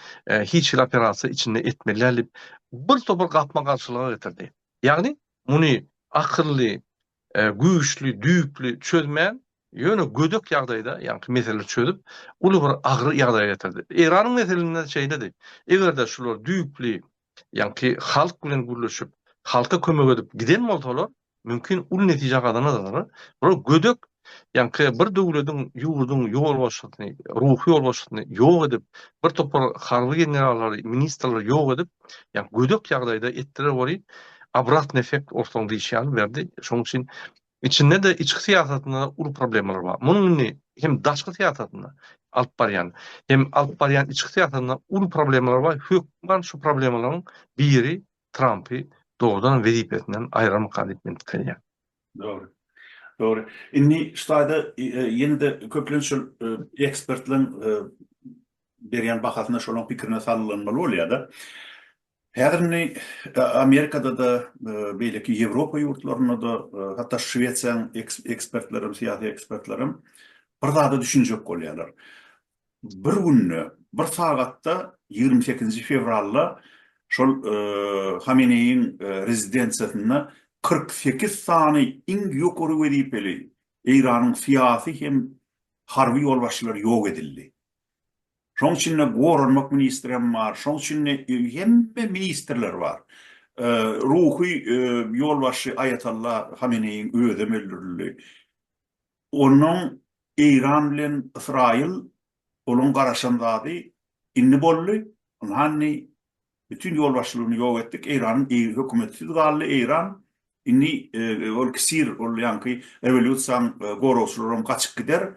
hiç hili operasiýa içinde etmeli däl diýip bir topar gapma garşylyga getirdi. Ýagny muny akylly güýçli, düýpli çözmän, ýöne gödek ýagdaýda, ýaňky meseleleri çözüp, uly bir agyr ýagdaýa getirdi. Eýranyň meselesinde şeýledi. Eger-de şular düýpli, ýaňky halk bilen gürleşip, halka kömek edip giden bolsalar, mümkin uly netije gazanardylar. Bular gödek, ýaňky bir döwletiň, ýurduň ýolbaşçysyny, ruhy ýolbaşçysyny ýok edip, bir topar harby generallary, ministrleri ýok edip, Ýa gödek ýagdaýda etdiler weli obratny effekt ortaň diýşi ýaly berdi. Şoň üçin içinde-de içki syýasatynda uly problemalar bar. Munuň indi hem daşky syýasatynda alyp barýan, hem alyp barýan içki syýasatynda uly problemalar bar. Hökman şu problemalaryň biri Trampy dogrudan wezipesinden aýrarmyka diýip men pikirlenýän. Dogry. Dogry. Indi şu taýda ýene-de köplenç şol ekspertleriň berýän bahasyna şolaryň pikirine salgylanmaly bolýar-da. Häzir indi Amerikada-da, beýleki Ýewropa ýurtlarynda-da, hatda Şwesiýanyň ekspertleri hem, syýasy ekspertler hem bir zada düşünjek bolýarlar. bir günde, bir sagatda ýigrimi sekizinji fewralda şol Hameneýiň rezidensiýasynda kyrk sekiz sany iň ýokary wezipeli Eýranyň syýasy hem harby ýolbaşçylary ýok edildi. Şonuň içinde goranmak ministri hem bar, şonuň içinde hemme ministrler bar. Ruhy ýolbaşçy Aýatalla Hameneýiň özem öldürildi. Onnoň Eýran bilen Ysraýyl olaň garaşan zady indi boldy, ynhany bütin ýolbaşçylygyny ýok etdik, Eýranyň eýgi hökümetsiz galdy Eýran, indi ol kisir ol ýaňky rewolýusiýaň goragçylaram gaçyp gider,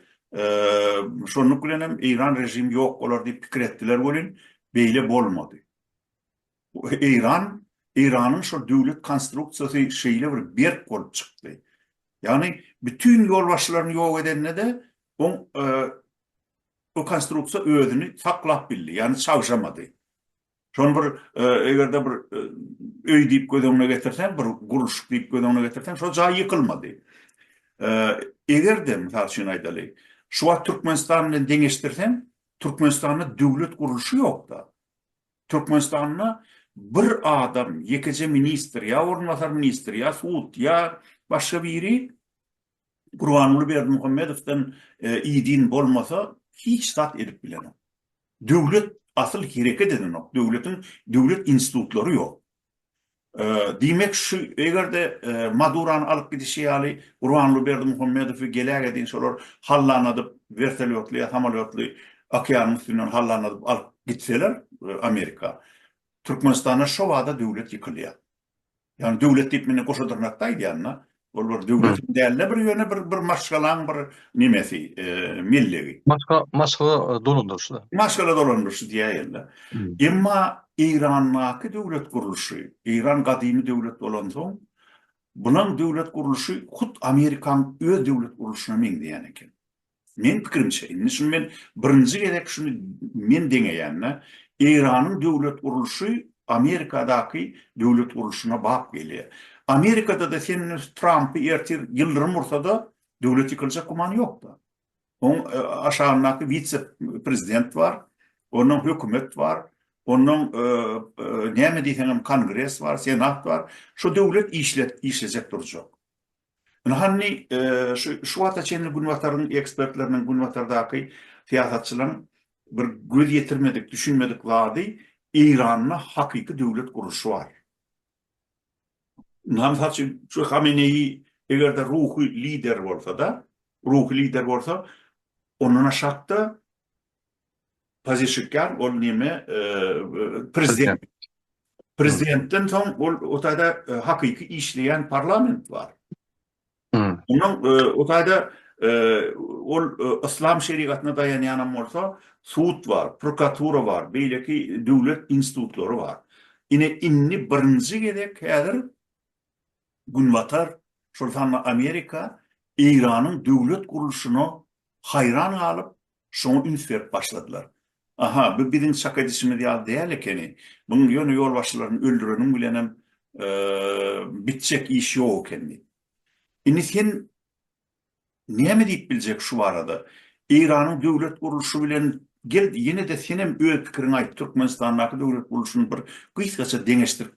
şonluk bilenem Eýran režimi ýok bolar diýip pikir etdiler welin beýle bolmady. Eýran, Eýranyň şol döwlet konstruksiýasy şeýle bir berk bolup çykdy. Ýagny bütin ýolbaşçylaryny ýok edende-de oň bu konstruksiýa özüni saklap bildi, ýagny çagşamady. Şony bir eger-de bir öý diýip göz öňüne getirseň, bir gurluşyk diýip göz öňüne getirseň, şol jaý ýykylmady. Eger-de, mysal üçin aýdaly, şu wagt Türkmenistan bilen deňeşdirseň, Türkmenistanda döwlet gurluşy ýok-da. Türkmenistanda bir adam, ýekeje ministr, ýa orunbasar ministr, ýa sud, ýa başga biri Gurbanguly Berdimuhamedowdan idin bolmasa, hiç zat edip bilenok. Döwlet asyl hereket edenok, döwletiň döwlet institutlary ýok. Diýmek şu eger-de Madurany alyp gidişi ýaly Gurbanguly Berdimuhamedowy geläge deýin şolar hallanadyp wertolýotly ýa samolýotly okeanyň üstünden hallanadyp alyp gitseler Amerika Türkmenistanda şo bada döwlet ýykylýar. Ýagny döwlet diýip men goşadyrnakda aýdýan-da Ol bir döwletiň däl-de bir ýöne bir bir maşgalaň bir nemesi, mellegi. Maşga, maşgala dolandyryşy-da. Maşgala dolandyryşy diýäýeli. Emma Eýrandaky döwlet gurluşy, Eýran gadymy döwlet bolansoň, bunaň döwlet gurluşy hut Amerikaň öz döwlet gurluşyna meňzeýän eken. Meň pikirimçe, indi şuny men birinji gezek şuny men deňeýän-de, Eýranyň döwlet gurluşy Amerikadaky döwlet gurluşyna bap gelýär. Amerikada-da sen Trampy ertir ýyldyrym ursa-da, döwlet ýykyljak gümany ýok-da. Oň aşagyndaky wise-prezident bar, onnoň hökümet bar, onnoň näme diýseňem kongres bar, senat bar. Şu döwlet işlejek durjak. Ine hany, şu wagta çenli Günbataryň ekspertleriniň, Günbatardaky syýasatçylaryň bir göz ýetirmedik, düşünmedik zady, Eýranda hakyky döwlet gurluşy bar. Indi, mysal üçin, şu Hameneýi eger-de ruhy lider bolsa-da, ruhy lider bolsa, ondan aşakda Pazeşikýan ol näme prezident. Prezidentden soň ol o taýda hakyky işleýän parlament bar. Onuň o taýda ol yslam şerigatyna daýanýanam bolsa sud bar, prokuratura bar, beýleki döwlet institutlary bar. Ine indi birinji gezek häzir Günbatar, şol sanda Amerika Eýranyň döwlet gurluşyna haýran galyp, şoňa üns berip başladylar. Aha, bu biziň çak edişimiz ýaly däl ekeni. Munuň ýöne ýolbaşçylaryny öldüreniň bilenem bitjek iş ýok eken diýip. Indi sen Näme diýip biljek şu barada? Eýranyň döwlet gurluşy bilen gel ýene-de senem öz pikiriňi aýt, Türkmenistandaky döwlet gurluşyny bir gysgaça deňeşdirip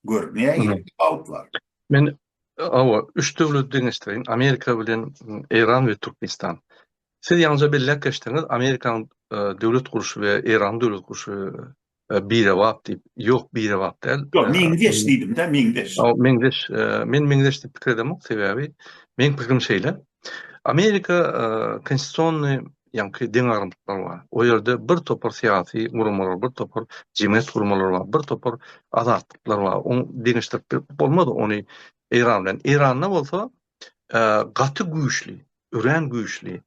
gör, nähili tapawut bar? Men hawa, üç döwleti deňeşdireýin, Amerika bilen Eýran we Türkmenistan. Siz ýaňyja belläp geçdiňiz, Amerikanyň döwlet gurluşy we Eýranyň döwlet gurluşy Birebap diýip, ýok birebap däl. Ýok, meňzeş diýdim-dä, meňzeş. Meňzeş, men meňzeş diýip pikir edemok, sebäbi meň pikirim şeýle, Amerika konstitusionny ýaňky deňagramlyklary bar. O ýerde bir topar syýasy guramalar, bir topar jemgyýet guramalar bar, bir topar azatlyklar bar. Oň deňeşdirip bilip bolmaz ony Eýran bilen. Eýranda bolsa gaty güýçli, örän güýçli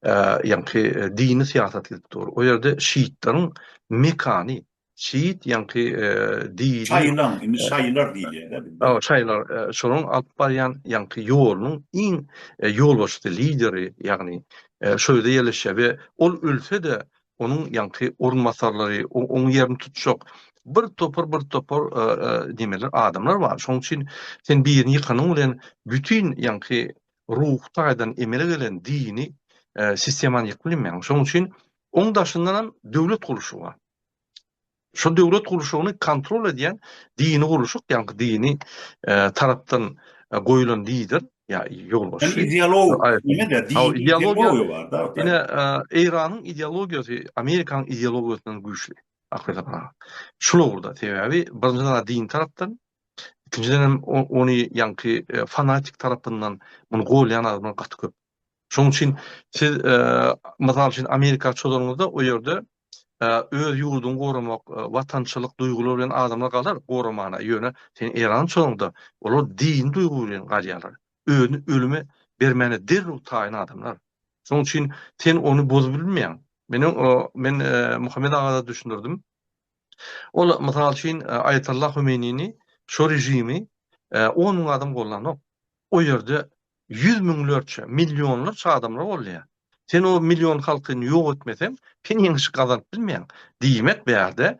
ýaňky dini syýasat edip dur. O ýerde şiitleriň mekany, şiit ýaňky dini şaýylan, indi şaýylar diýilýär. Aw, şaýylar şonuň alyp barýan ýaňky ýolunyň iň ýolbaşçysy, lideri, ýagny şo ýerde ýerleşýär we ol ölse-de onuň ýaňky orunbasarlary, oň ýerini tutjak bir topar, bir topar nemeler, adamlar bar. Şonuň üçin sen birini ýykanyň bilen bütin ýaňky ruhy taýdan emele gelen dini sistemany ýykyp bilmeýäň. Şonuň üçin oň daşyndanam döwlet gurluşy bar. Şol döwlet gurluşygyny kontrol edýän dini gurluşyk, ýaňky dini tarapdan goýulan lider, ýa ýolbaşçy. Yani ideolog, ýene-de dini ideologiýa bar-da. Ýene Eýranyň ideologiýasy Amerikanyň ideologiýasyndan güýçli. Hakykatam. Şul ugurda, sebäbi birinji zat din tarapdan, ikinjiden hem ony ýaňky fanatik tarapyndan muny golýan adamlar gaty köp. Şonuň üçin siz mysal üçin Amerika çozanyňyzda o ýerde öz ýurduňy goramak, watançylyk duýgulary bilen adamlar galar goramana. Ýöne sen Eýrany çozanyňda olar dini duýgy bilen galýarlar. Özüni ölüme bermäne derrew taýyn adamlar. Şonuň üçin sen ony bozup bilmeýäň. Meniň o men Muhammet aga-da düşündirdim. Ol, mysal üçin, Aýatollah Homeýnini, şo režimi on müň adam gollanok. O ýerde ýüz müňlerçe, millionlarça adamlar gollaýar. Sen o million halkyny ýok etmeseň, sen ýeňiş gazanyp bilmeýäň. Diýmek, bu ýerde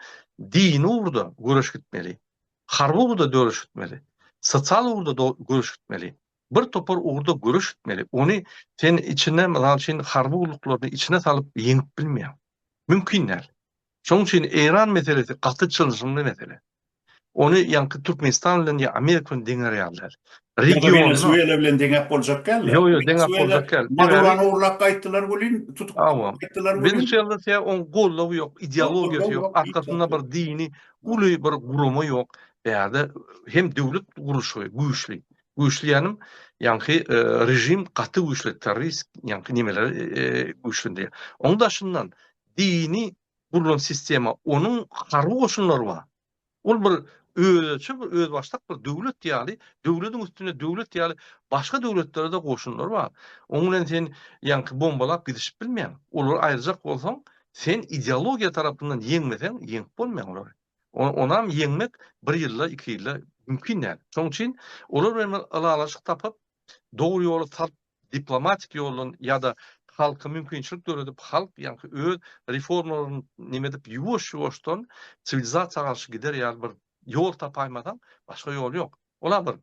dini ugurda göreş gitmeli, harby ugurda döreş gitmeli, sosial ugurda göreş gitmeli, bir topar ugurda göreş gitmeli. Ony sen içine, mysal üçin, harby gulluklaryny içine salyp ýeňip bilmeýäň. Mümkin däl. Şonuň üçin Eýran meselesi gaty çylşyrymly mesele. Ony ýaňky Türkmenistan bilen ýa Amerika bilen deňär ýaly däl. Ýa-da Wenesuela bilen deňäp boljak däl-de. Ýok, ýok, deňäp boljak däl. Madurany ogurlap gaýtdylar welin, tutup gaýtdylar welin. Wenesuelada sebäbi onuň goldawy ýok, ideologiýasy ýok, arkasynda bir dini uly bir gurama ýok. Bärde hem döwlet gurluşygy güýçli. Güýçli diýýänim, ýaňky režim gaty güýçli, terrorist ýaňky nemeleri güýçlendirýär. Onuň daşyndan dini gurlan sistema, onuň harby goşunlary bar. Ol bir özüçe bir özbaşdak bir döwlet ýaly, döwletiň üstünde döwlet ýaly başga döwletlerde goşunlary bar. Oň bilen sen ýaňky bombalap gidişip bilmeýäň. Olary aýyrjak bolsaň, sen ideologiýa tarapyndan ýeňmeseň, ýeňip bolmaýar olary. Onam ýeňmek bir ýylda, iki ýylda mümkin däl. Şoň üçin olar bilen bir ylalaşyk tapyp, dogry ýola salyp diplomatik ýoldan ýa-da halka mümkinçilik döredip halk ýaňky öz reformalaryny neme edip ýuwaş-ýuwaşdan siwilizasiýa garşy gider ýaly bir ýol tapaýmasaň başga ýol ýok. Ola bir.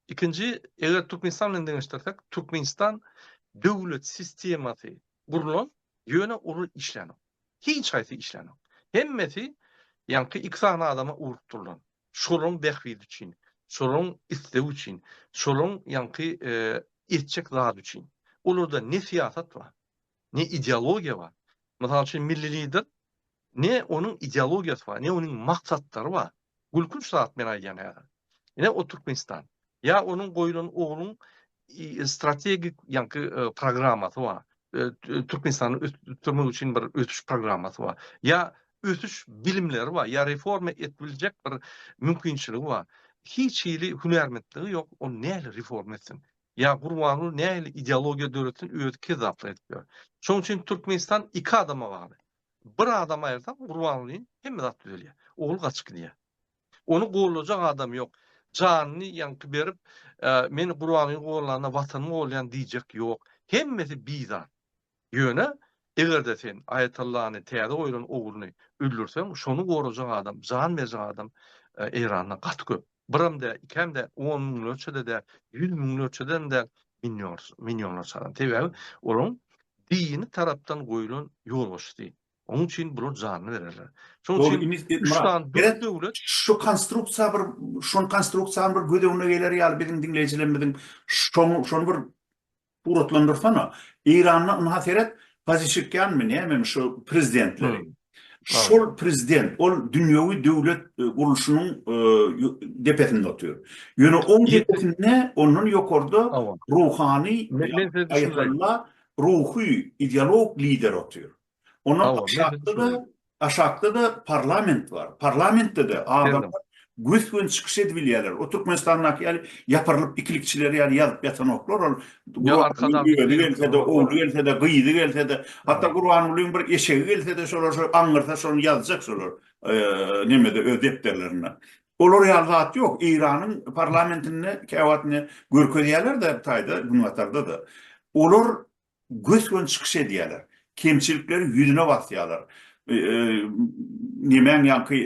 Ikinji eger Türkmenistan bilen deňeşdirsek Türkmenistan döwlet sistemasy gurlan ýöne ol işlänok. Hiç haýsy işlänok. Hemmesi ýaňky iki sany adama urup durlan. şolaryň bähbidi üçin, şolaryň islegi üçin, şolaryň ýaňky etjek zady üçin. Olarda ne syýasat bar, ne ideologiýa bar. Mysal üçin, milli lider ne onuň ideologiýasy bar, ne onuň maksatlary bar. Gülkünç zat men aýdýan häzir. Ine o Türkmenistan. Ýa onuň goýlan ogluň strategik ýaňky programmasy bar. Türkmenistany ösdürmek üçin bir ösüş programmasy bar. Ýa ösüş bilimleri bar, ýa reforma edip biljek bir mümkinçiligi bar. Hiç hili hünärmentligi ýok, ol nähili reforma etsin? Ýa Gurbanguly nähili ideologiýa döretsin, özi kezzaplyk edip ýör. Şonuň üçin Türkmenistan iki adama bagly. Bir adam aýyrsaň, Gurbangulyny hemme zat düzelýär. Ogly gaçyp gidýär. Ony gollajak adam ýok. Janyny ýaňky berip, Men Gurbanguly gollanda Watanym golýan diýjek ýok. Hemmesi bizar. Ýöne, eger-de sen Aýatallany, täze goýlan ogluny öldürseň, şony gorajak adam, jan berjek adam Eýranda gaty köp. Biram däl, ikäm däl, on müňlerçe-de däl, ýüz müňlerçeden-de däl, millionlarça adam. Sebäbi olaryň dini tarapdan goýlan ýolbaşçysy. Onuň üçin bular janyny bererler. Şonuň Dogry, üçin indi, üç Myrat, sany dürli gerek döwlet şu konstruksiýa bir, şol konstruksiýany bir göz öňüne geler ýaly biziň diňleýjilerimiziň şoň- şony bir suratlandyrsana. Eýranda, ynha, seret, Pazeşikýanmy, nämemi şu prezidentleri. Hum. Aw. Şol prezident, ol dünýewi döwlet e, gurluşynyň e, ýo- depesinde otyr. Ýöne oň Ýe- depesinde, ondan ýokarda Awa. ruhany Men- men size düşündireýin. Aýatalla ruhy, ideolog lider otyr. Ondan aşakda-da, aşakda-da parlament bar. Parlamentde-de adamlar gös-göni çykyş edip bilýärler. O Türkmenistandaky ýaly ýapyrylyp ikilikçiler ýaly ýazyp ýatanoklar. Ol özi gelse-de, ogly gelse-de, gyzy gelse-de, hatda Gurbangulyň bir eşegi gelse-de, şolar şo aňňyrsa şony ýazjak şolar nemede öz depderlerinde. Olar ýaly zat ýok. Eýranyň parlamentinde käwagt ine görkezýärler-de bu taýda, günbatarda-da. Olar gös-göni çykyş edýärler. Kemçilikleri ýüzüne basýarlar. Nemäň ýaňky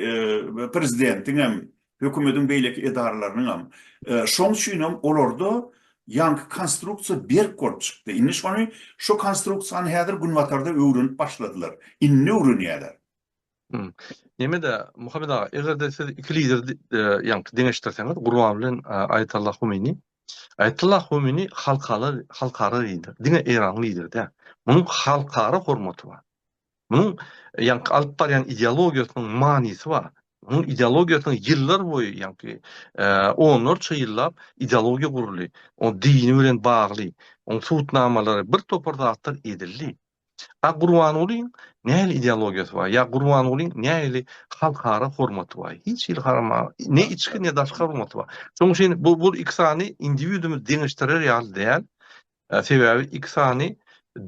prezidentiň hem, hökümetiň beýleki edaralarynyň hem. Şoň üçin hem olarda ýaňky konstruksiýa berk bolup çykdy. Indi şony, şu konstruksiýany häzir günbatarda öwrenip başladylar. Indi öwrenýärler. Hum. Nemede Muhammet aga, eger-de siz iki lideri ýaňky deňeşdirseňiz, Gurban bilen Aýatollah Humeyni. Aýatollah Humeyni halkara halkara lider, diňe Eýranyň lideri däl. Munuň halkara hormaty bar. Munuň ýaňky alyp barýan ideologiýasynyň manysy bar. Munuň ideologiýasynyň ýyllar boýy ýaňky onlarça ýyllap ideologiýa guruldy. O dini bilen bagly, onuň sudnamalary bir topar zatlar edildi. A Gurbangulyň nähili ideologiýasy bar? Ýa Gurbangulyň nähili halkara hormaty bar? Hiç hili harama, ne içki, ne daşky hormaty bar. Şonuň üçin bu bu iki sany indiwidumy deňeşdirer ýaly däl. Sebäbi iki sany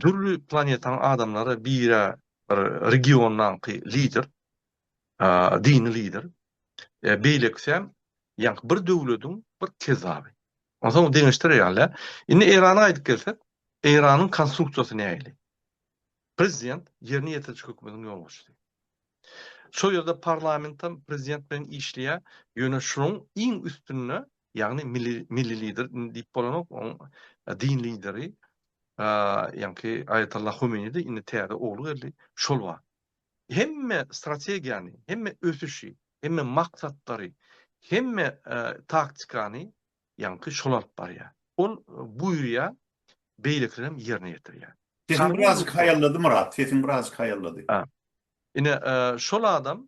dürli planetaň adamlary biri bir regiondaky lider, dini lider, beýlekisem, ýaňky bir döwlediň bir kezzaby. Onsoň deňeşdireýanle, indi Eýrana gaýdyp gelsek, Eýranyň konstruksiýasy nähili? Prezident ýerine ýetiriji hökümetiň ýolbaşçysy. Şol ýerde parlamentem prezident bilen işleýär, ýöne şunuň iň üstünde, ýagny milli milli lider diýip bolanok, oň din lideri, ýaňky Aýatollah Homeýnidi, indi täze ogly geldi, şol bar. hemme strategiýany, hemme ösüşi, hemme maksatlary, hemme taktikany ýaňky şol alyp barýar. Ol buýurýar, beýlekilerem ýerine ýetirýär. Sesiň birazjyk haýallady Myrat, sesiň birazjyk haýallady. Ine, şol adam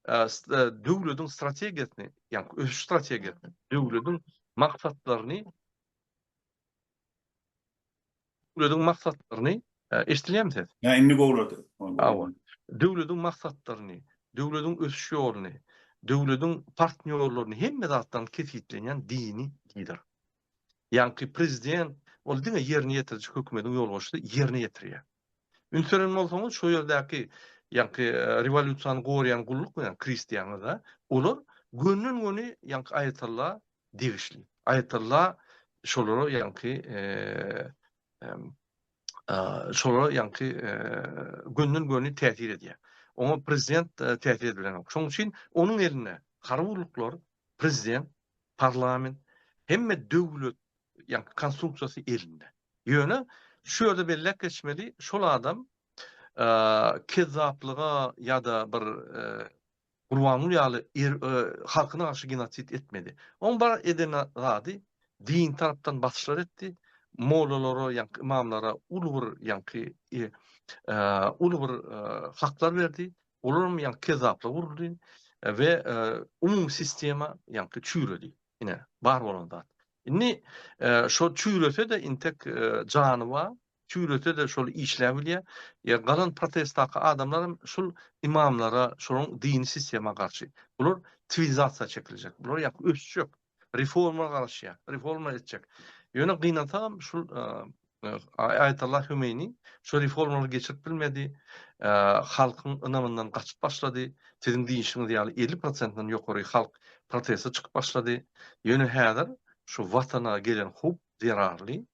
döwletiň strategiýasyny, ýaňky ösüş strategiýasyny, döwletiň maksatlaryny Döwlediň maksatlaryny, eşdilýärmi ses? Ýa indi gowlady. Hawa. Döwlediň maksatlaryny, döwlediň ösüş ýoluny, döwlediň partnýorlaryny hemme zatlaryny kesgitlenýän dini lider. Ýaňky prezident ol diňe ýerine ýetiriji hökümetiň ýolbaşçysy ýerine ýetirýär. Üns beren bolsaňyz, şo ýerdäki ýaňky rewolýusiýany goraýan gulluk bilen kristianada olar gönden-göni ýaňky aýatalla degişli. Aýatalla şolara ýaňky şolara ýaňky gönden-göni täsir edýär. Oňa prezident täsir edilenok. Şoň üçin onuň elinde harby gulluklar, prezident, parlament, hemme döwlet ýa konstruksiýasy elinde. Ýöne şu ýerde belläp geçmeli, şol adam kezzaplyga ýa-da bir Gurbanguly ýaly er, e, halkyna garşy genosid etmedi. Oň bar eden zady din tarapdan basyşlar etdi. Mollalara, ýa-da imamlara uly bir, ýa-da e, e, uly bir e, haklar berdi. Olar hem ýa-da kezzaplyk uruldy we umumy sistema ýa-da çüýredi. Ine, bar bolan zat. Indi e, şo çüýrese-de intek e, jany bar, çüýrese-de şol işläp bilýär. Ýa galan protestdaky adamlar hem şul imamlara, şolaryň dini sistema garşy. Bular siwilizasiýa çekiljek, bular ýa ösjek, reforma garaşýar, reforma etjek. Ýöne gynansagam şul e, Aýatullah Hümeýni şu reformalary geçirip bilmedi, halkyň ynamyndan gaçyp başlady, siziň diýişiňiz ýaly elli prosentden ýokary halk proteste çykyp başlady, ýöne häzir şu watana gelen howp zerarly,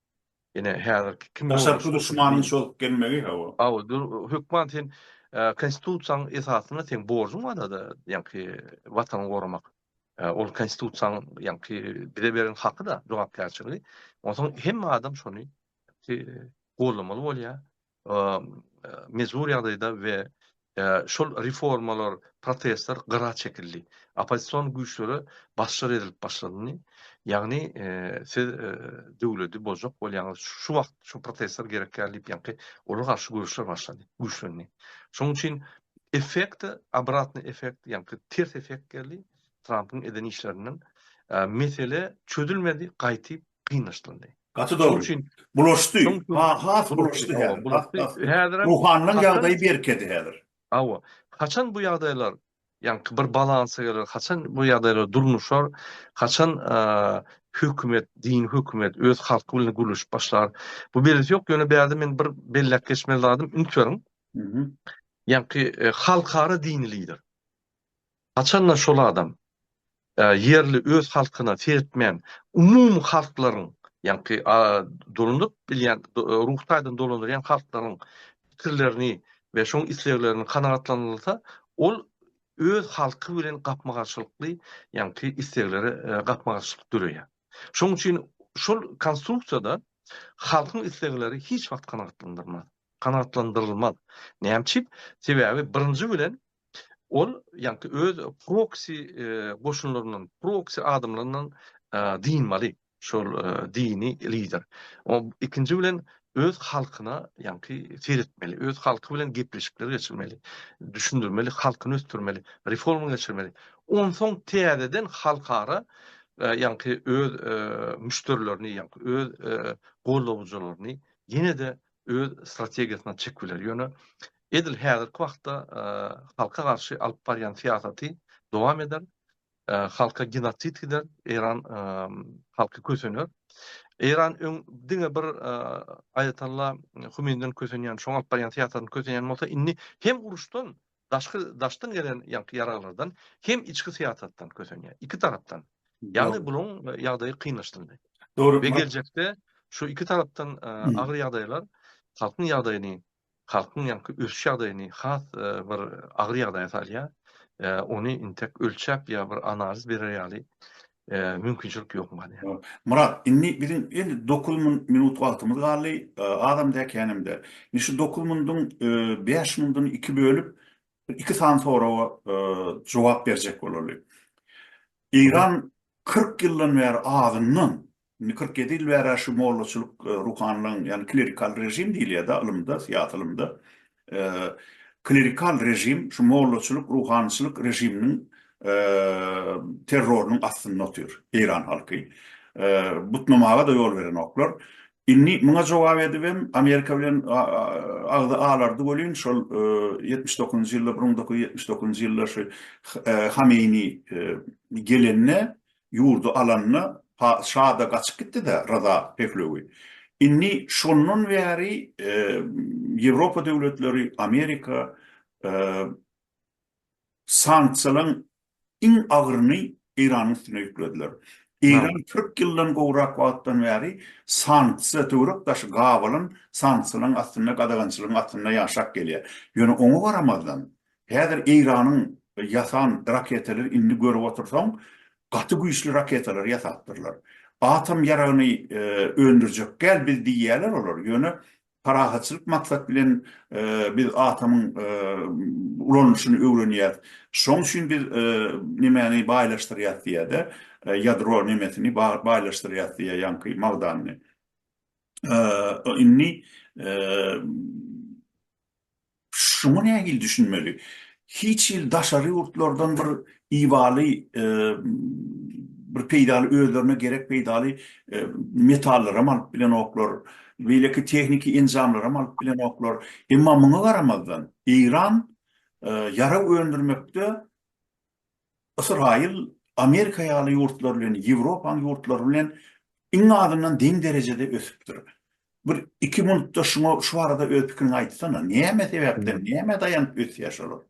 ýene häzirki kim bolsa Daşarky duşmanyň çozüp gelmegi, hawa. Hawa, hökman sen Konstitusiýanyň esasynda seň borjuň bar-da, ýaňky watany goramak. Ol konstitusiýanyň ýaňky bize beren haky-da, jogapkärçiligi. Onsoň hemme adam şony goldamaly bolýar. Mejbury ýagdaýda we şol reformalar, protestler gyra çekildi. Oppozision güýçlere basşyr edilip başlandy. Ýagny siz döwleti bozjak bolýaňyz, şu wagt şu protestler gerekýär diýip ýaňky olar garşy göreşler başlady, güýçlendi. Şonuň üçin Effekt, obratny effekt, ýaňky ters effekt geldi Trampyň eden işlerinden. Mesele çözülmedi, gaýtyp gynaşdyldy. Gaty dogry. Bulaşdy. Has bulaşdy häzir. Ruhanynyň ýagdaýy berkedi häzir. Hawa. Haçan bu ýagdaýlar ýaňky bir balansa geler, haçan bu ýagdaýlar durnuşar, haçan hökümet, dini hökümet öz halky bilen gürleşip başlar, bu belsi ýok. Ýöne bärde men bir belläp geçmeli zadym, üns beriň, Ýaňky halkara dini lider. Haçanda şol adam ýerli öz halkyna seretmän, umumy halklaryň, ýaňky dolanyp bilýän, ruhy taýdan dolandyrýan halklaryň pikirlerini we şoň isleglerini kanagatlandyrylsa, ol öz halky bilen gapma-garşylykly, ýaňky islegleri gapma-garşylyk döreýär. Şoň üçin şol konstruksiýada halkyň islegleri hiç wagt kanagatlandyrylmaz. kanagatlandyrylmaz. Näme üçin? Sebäbi birinji bilen ol ýagty öz proksi goşunlaryndan, proksi adamlaryndan dynmaly şol dini lider. Ikinji bilen öz halkyna ýagty seretmeli, öz halky bilen gepleşikler geçirmeli, düşündirmeli, halkyny ösdürmeli, reforma geçirmeli. Onsoň täzeden halkara ýagty öz müşderilerini ýagty öz goldawjylaryny ýene-de öz strategiýasyna çek biler. Ýöne edil häzirki wagtda halka garşy alyp barýan syýasaty dowam eder. Halka genosid gider, Eýran halky kösener. Eýran öň diňe bir Aýatalla Humeynden kösenýän, şoň alyp barýan syýasatyny kösenýän bolsa, indi hem uruşdan, daşky daşdan gelen ýaňky ýaraglardan hem içki syýasatdan kösenýär. Iki tarapdan. Ýagny bularyň ýagdaýy kynlaşdyryldy. Dogry. Ve geljekde şu iki tarapdan agyr ýagdaýlar halkyň ýagdaýyny, halkyň ýaňky ösüş ýagdaýyny has bir agyr ýagdaýa salýar. Ony intek ölçäp ýa bir analiz berer ýaly mümkinçilik ýok maňa. Myrat, indi biziň indi dokuz minut wagtymyz galdy, azam däl, känem däl. Indi şu dokuz minduň bäş minduny iki bölüp, iki sany soraga jogap berjek bolaly. Eýran kyrk ýyldan bäri azyndan Indi kyrk ýedi ýyl bäri şu mollaçylyk ruhanylygyň, ýagny klerikal režim diýilýär-de ylymda, syýasy ylymda. Klerikal režim şu mollaçylyk, ruhanyçylyk režiminiň terrorynyň astynda otyr eýran halky. Butnamaga-da ýol berenoklar. Indi muňa jogap edibem Amerika bilen agzy alardy welin, şol ýetmiş dokuzynjy ýylda, bir müň dokuz ýüz ýetmiş dokuzynjy ýylda şu Hameýni gelende, ýurdy alanyna pa şa-da gaçyp gitdi-dä Ryza Pehlewi. Indi şondan bäri Ýewropa döwletleri, Amerika sanksiýalaryň iň agyryny Eýranyň üstüne ýüklediler. Eýran kyrk ýyldan gowrak wagtdan bäri sanksiýa, töwerek-daşy gabalan sanksiýalaryň astynda, gadagançylygyň astynda ýaşap gelýär. Ýöne oňa garamazdan, Häzir Eýranyň ýasan raketalar indi görüp otursaň gaty güýçli raketalar ýasapdyrlar. Atom ýaragyny öndürjekgäl biz diýýäler olar, ýöne parahatçylyk maksat bilen biz atomyň ulanylyşyny öwrenýäs. Şoň üçin biz nemäni baýlaşdyrýas diýýäde, ýadro nemesini baýlaşdyrýas diýýä ýaňky magdanyny. Indi Şuňa nähili düşünmeli? Hiç hili daşary ýurtlardan bir ibaly bir peýdaly özlerine gerek peýdaly metallaram alyp bilenoklar, beýleki tehniki enjamlaram alyp bilenoklar. Emma muňa garamazdan Eýran ýarag öndürmekde Ysraýyl Amerika ýaly ýurtlar bilen, Ýewropanyň ýurtlary bilen iň azyndan deň derejede ösüpdir. Bir iki minutda şuňa şu barada öz pikiriňi aýtsana. Näme sebäpden, nämä daýanyp ösýär şolar?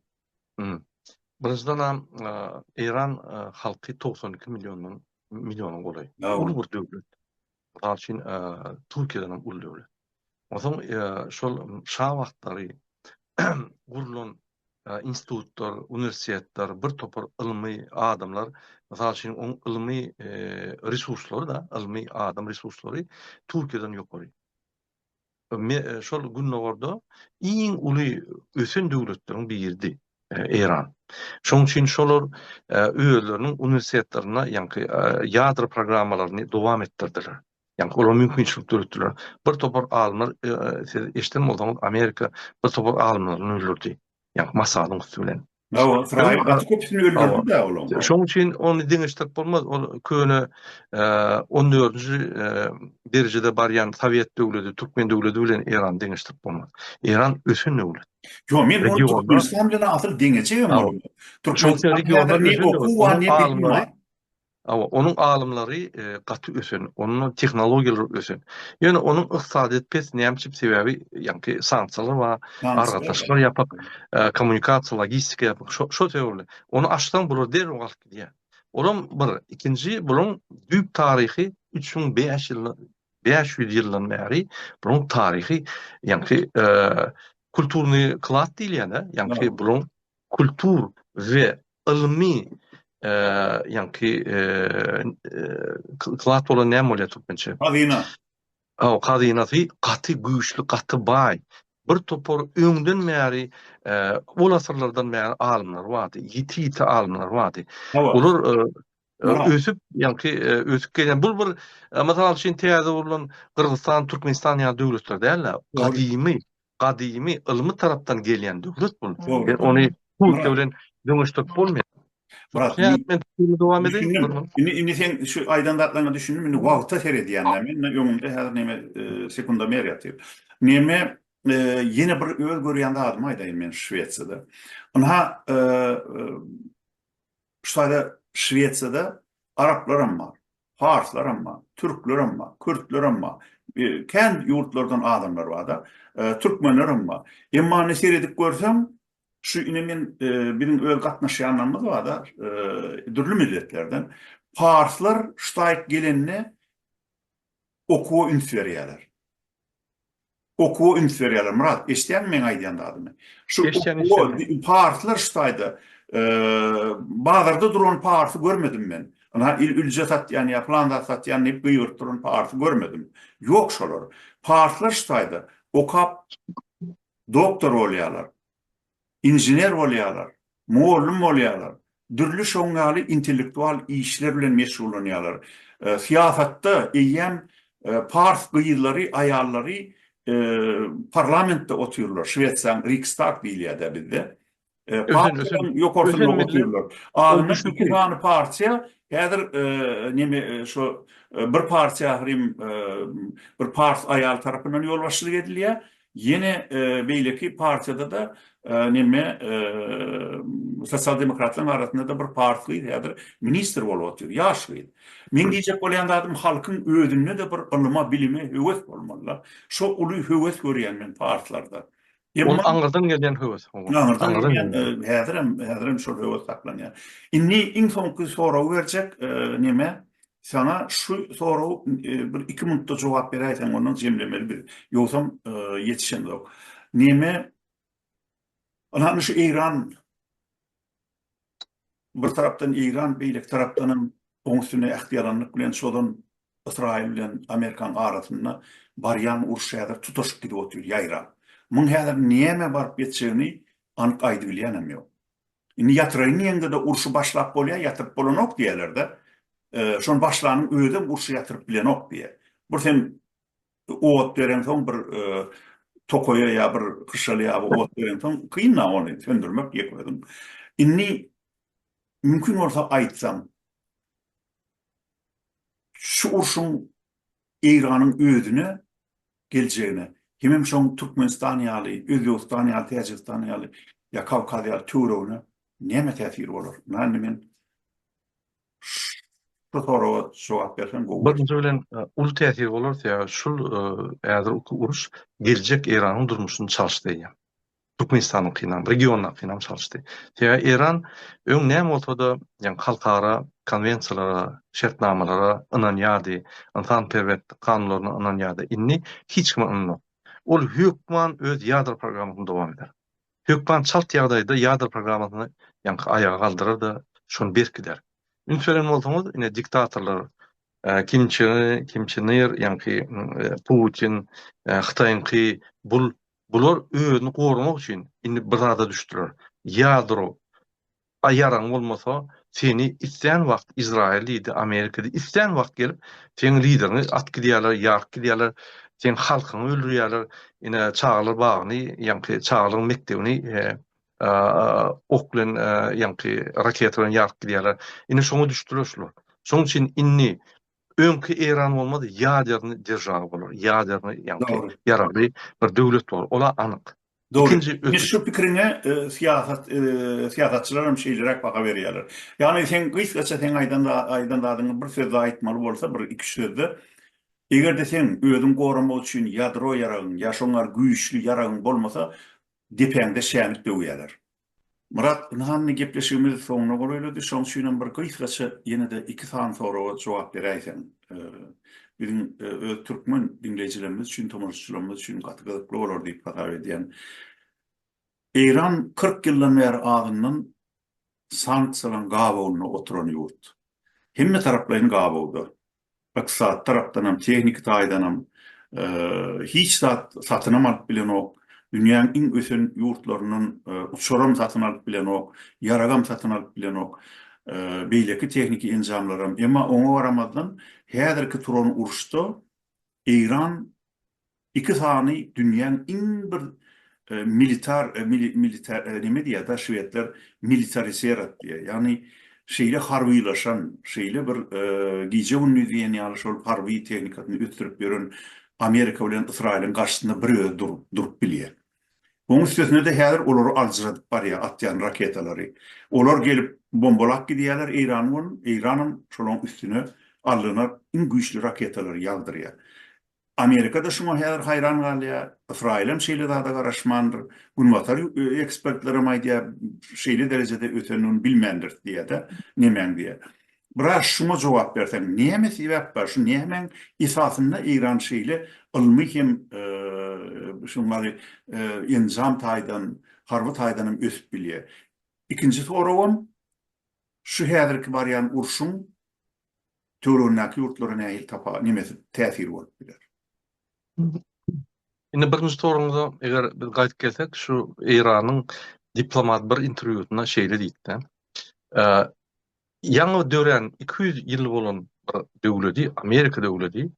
Birinjiden hem Eýran halky togsan iki milliondan, milliona golaý. Uly bir döwlet. Mysal üçin, Türkiýeden hem uly döwlet. Onsoň şol şa wagtlary gurlan institutlar, uniwersitetler, bir topar ylmy adamlar, mysal üçin, oň ylmy resurslary-da, ylmy adam resurslary Türkiýeden ýokary. şol Gündogarda iň uly ösen döwletleriň biridi Eýran. Şonuň üçin şolar özleriniň uniwersitetlerinde ýaňky ýadro programmalaryny dowam etdirdiler. Ýaňky olar mümkinçilik döretdiler. Bir topar alymlar siz eşiden bolsaňyz Amerika bir topar alymlaryny öldürdi. Ýaňky Masadyň üsti bilen. Hawa, Ysraýyl gaty köpüsini öldürdi-de olaň. Şonuň üçin ony deňeşdirip bolmaz. Ol köne on dördünji derejede barýan Sowet döwleti, Türkmen döwleti bilen Eýrany deňeşdirip bolmaz. Eýran ösen döwlet. Ýok, men ony Türkmenistan bilen asyl deňeçegem bolmaz. Türkmenistanyň häzir ne okuw bar, ne bilimi bar. Hawa, onuň alymlary gaty ösen, onuň tehnologiýalary ösen. Ýöne onuň ykdysadyýeti pes, näme üçin? Sebäbi ýaňky sanksiýalar bar, aragatnaşyklar ýapyk, kommunikasiýa, logistika ýapyk. Şo-şol sebäpli. Ony açsaň bular derrew galyp gidýär. Olam bir, ikinji bularyň düýp taryhy üç müň bäş ýyl, bäş ýüz ýyldan bäri bularyň taryhy ýaňky kulturnyý klad diýilýär-de, ýaňky bularyň kultur we ylmy ýaňky klad bolan näme bolýar türkmençe? Hazyna. Aw, hazynasy gaty güýçli, gaty baý. Bir topar öňden bäri, ol asyrlardan bäri alymlar bardy, ýiti-ýiti alymlar bardy. Olar ösüp ýaňky ösüp gelen bu bir mysal üçin täze gurlan Gyrgyzystan, Türkmenistan ýaly döwletler däl-de, gadymy, gadymy ylmy tarapdan gelýän döwlet bu. Ony Türkiýe bilen deňeşdirip bolmaýar. Murat, men dowam edeyim. Indi indi sen şu aýdan zatlaryňa düşündim. Indi wagta seredýän-de men, men öňümde häzir näme sekundomer ýatyr. Näme ýene bir öz görýän zadymy aýdaýyn men Şwesiýada. Ynha, Şu sada Şwesiýada araplar hem bar, parslar hem bar, türkler hem bar, kürtler hem bar, kän ýurtlardan adamlar bar-da, türkmenler hem bar. Emma indi seredip görseň, şu indi men biziň öz gatnaşýanlarymyz bar-da, dürli milletlerden. Parslar şu taýyk gelende Okuwa üns berýärler. Okuwa üns berýärler. Myrat, eşidýäňmi meň aýdýan zadymy? Şu okuwa, parslar şu taýda, bazarda duran parsy görmedim men. Ynha, ülje satýan ýa pylan zat satýan diýip gygyryp duran parsy görmedim. Ýok şolar. Parslar şu taýda okap doktor bolýarlar. inžener bolýarlar, mugallym bolýarlar, dürli şoň ýaly intellektual işler bilen meşgullanýarlar. Syýasatda eýýäm pars gyzlary, aýallary parlamentde otyrlar, Şwesiýanyň Rikstag diýilýär-dä bizde. Partiýanyň ýokarsynda otyrlar. Azyndan iki sany partiýa häzir neme şo bir partiýa ahyry bir pars aýal tarapyndan ýolbaşçylyk edilýär, Ýene beýleki partiýada-da neme sosial demokratlaryň arasynda-da bir pars gyz häzir ministr bolup otyr, ýaş gyz. Meň diýjek bolýan zadym halkyň özünde-de bir ylyma, bilime höwes bolmaly-da. Şo uly höwes görýän men parslarda. Ol aňyrdan gelýän höwes. Häzirem, häzirem şol höwes saklanýar. Indi iň soňky soragy berjek neme Saňa şu sorag bir iki minutda jogap beräýseň ondan jemlemeli biz. Ýogsam ýetişemzok. Neme Ana şu Eýran bir tarapdan Eýran beýleki tarapdan hem oň üstüne ähtiýalanlyk bilen şodan Ysraýyl bilen Amerikan arasynda barýan uruş häzir tutaşyp gidip otyr ýaýrap. Muň häzir näme baryp ýetjegini anyk aýdybilýän hem ýok. Indi ýatyraýyn diýeňde-de urşy başlap bolýar, ýatyryp bolanok diýerler-de. Şony başlanyň özem urşy ýatyryp bilenok diýer. Bir sen ot bereňsoň bir tokaýa ýa bir hyşaly ýa bir ot bereňsoň kyn-a ony söndürmek ýek özüň. Indi mümkin bolsa aýtsam, şu urşuň Eýranyň özüne geljegine hemem şoň Türkmenistan ýaly, Özbegistan ýaly, Täjigistan ýaly ýa Kawkaz ýaly töweregine näme täsiri bolar? Muňa indi men şu soraga jogap berseň gowy bolar. Birinji bilen uly täsiri bolar sebäbi şul häzirki uruş geljek Eýranyň durmuşyny çalyşdy eýýäm. Türkmenistanyňkynam, regiondakynam çalyşdy. Sebäbi Eýran öň näme bolsa-da, ýagny halkara konwensiýalara, şertnamalara ynanýardy, ynsanperwerlik kanunlaryna ynanýardy, indi hiç kime ynanok. Ol hökman öz ýadro programmasyny dowam eder. Hökman çalt ýagdaýda ýadro programmasyny ýaňky aýaga galdyrar-da, şony berkider. Üns beren bolsaňyz, ine diktatorlar, Kim Çen Ir, ýaňky Putin, Hytaýyňky bul Bular özüni goramak üçin indi bir zada düşdüler. Ýadro a ýaragyň bolmasa, seni islän wagt Izraýyl diýdi, Amerika diýdi, islän wagt gelip seň lideriňi at gidýärler, ýaryp gidýärler, seň halkyňy öldürýärler, ine çagalar bagyny, ýaňky çagalaryň mekdebini ok bilen, ýaňky raketa bilen ýaryp gidýärler. Indi şoňa düşdüler şular. Şoň üçin indi Öňki Eýran bolmaz, ýaderny derjawa bolar, ýaderny ýaňky ýaragly bir döwlet bolar, ol-a anyk. Dogry. Indi şu pikiriňe syýasat, syýasatçylar hem şeýleräk baha berýärler. Ýagny seň gysgaça seň aýdan aýdan zadyňy bir sözde aýtmaly bolsa, bir iki-üç sözde, eger-de seň özüň goramak üçin ýadro ýaragyň ýa şoňar güýçli ýaragyň bolmasa, depäňde şänik döwýärler. Myrat, ynha indi gepleşigimiz soňuna golaýlady, şoň üçinem bir gysgaça ýene-de iki sany soraga jogap beräýseň. Biziň öz türkmen diňleýjilerimiz üçin, tomaşaçylarymyz üçin gaty gyzykly bolar diýip hasap edýän. Eýran kyrk ýyldan bäri azyndan sanksiýalaryň gabawynda oturan ýurt. Hemmetaraplaýyn gabawda. Ykdysady tarapdanam, tehniki taýdanam hiç zat satynam alyp bilenok. Dünýäň iň ösen ýurtlaryndan uçaram satyn alyp bilenok, ýaragam satyn alyp bilenok, beýleki tehniki enjamlaram. Emma oňa garamazdan, häzirki turan uruşda Eýran iki sany dünýäň iň bir militar militar neme diýýär da şwedler militariserat diýýär ýagny şeýle harbylaşan şeýle bir gije gündiz diýen ýaly şol harby tehnikasyny ösdürip ýören amerika bilen ysraýylyň garşysynda bir özi durup durup bilýär Oň üstesine-de häzir olary aljyradyp barýar atýan raketalary. Olar gelip bombalap gidýärler Eýrany bolun, Eýranam şolaň üstüne allyna iň güýçli raketalary ýagdyrýar. Amerika-da şuňa häzir haýran galýar, Ysraýylam şeýle zada garaşmandyr, Günbatar ekspertlerem aýdýar, şeýle derejede ötendigini bilmändiris diýýär-de, nemäň diýýär. Biraz şuňa jogap berseň, näme sebäp bar, şu nämäň esasynda Eýran şeýle ylmy hem şuňary enjam taýdan, harby taýdan hem ösüp bilýär? Ikinji soragym, şu häzirki barýan urşuň töweregindäki ýurtlara nähili tapawut, nemesi, täsiri bolup biler? Indi birinji soragyňyza eger biz gaýdyp gelsek, şu Eýranyň diplomat bir interwýusynda şeýle diýipdi, Ýaňy dörän iki ýüz ýyl bolan bir döwledi, Amerika döwledi,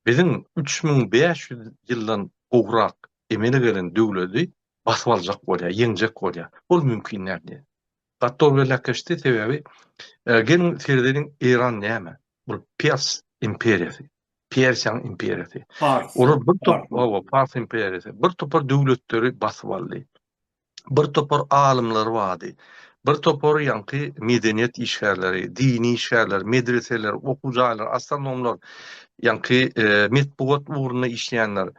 biziň üç müň bäş ýüz ýyldan gowrak emele gelen döwledi basyp aljak bolýar, ýeňjek bolýar. Ol mümkin däl diýýär. Gaddor belläp geçdi, sebäbi geliň seredeliň Eýran näme? Ol Pers imperiýasy, Persiýanyň imperiýasy. Olar bir topar, hawa, Pars imperiýasy, bir topar döwletleri basyp aldy. bir topar alymlar bardy. Bir topar ýaňky medeniýet işgärleri, dini işgärler, medreseler, okuw jaýlary, astronomlar, ýaňky metbugat ugrunda işleýänler,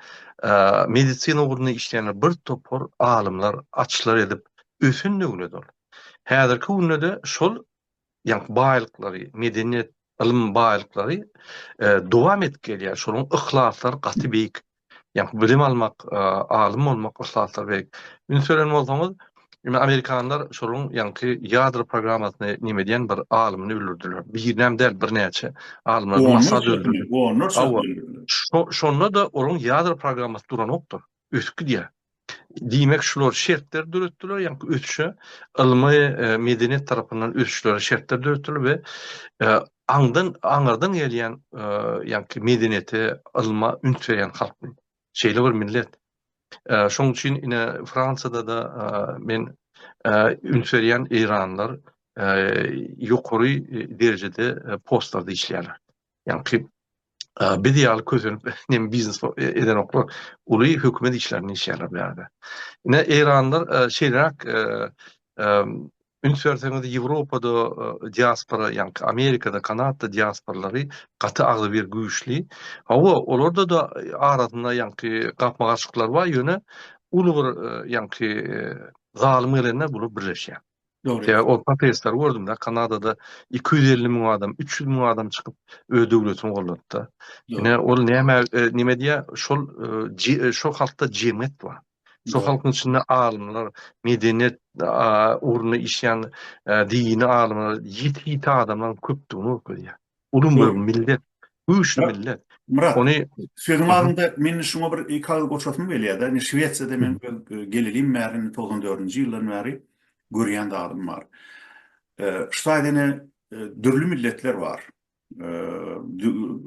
medisina ugrunda işleýänler, bir topar alymlar açylar edip ösen döwlet ol. Häzirki günde-de şol ýaňky baýlyklary, medeniýet, ylym baýlyklary dowam edip gelýär. Şolaryň yhlaslary gaty beýik. Ýaňky bilim almak, alym bolmak yhlaslary beýik. Üns beren bolsaňyz, indi amerikanlar şolaryň ýaňky ýadro programmasyny näme diýen bir alymyny öldürdiler. Birinem däl, birnäçe alymlary masada öldürdiler. Onlarça öldürdiler. Şo-şonda-da olaryň ýadro programmasy duranokdyr. ösüp gidýär. Diýmek, şular şertleri döretdiler, ýaňky ösüşe ylmy, e, medeniýet tarapyndan ösüşlere şertler döretdiler we e, aňdan aňyrdan gelýän e, ýaňky medeniýete, ylma üns berýän halk bu. Şeýle bir millet. Şoň üçin ine Fransiýada da men üns berýän eýranlar ýokary derejede postlarda işleýärler. Ýaňky biz ýaly kösenip nem biznes edenoklar uly hökümet işlerinde işleýärler bu ýerde. Ine eýranlar şeýleräk üns berseňiz Ýewropada diaspora ýaňky Amerikada, Kanadada diasporalary gaty agzybir güýçli. Hawa olarda da arasynda ýaňky gapma-garşylyklar bar ýöne uly bir ýaňky zalym gelende bular birleşýär. Sebäbi ol protestleri gördüm-de, Kanadada iki ýüz elli müň adam, üç ýüz müň adam çykyp, öz döwletini goldady-da. Ine, ol näme, näme diýýär, şol, şo halkda jemgyýet bar. Şo halkyň içinde alymlar, medeniýet ugrunda işleýän dini alymlar, ýiti-ýiti adamlaryň köpdügini görkezýär. Ulum bir millet, güýçli millet. Myrat, ony sözüň aňynda men şuňa bir iki agyz goşasym gelýär-de, indi Şwesiýada men gelilim bäri, togsan dördünji ýyldan bäri görýän zadym bar. Şwesiýada dürli milletler bar.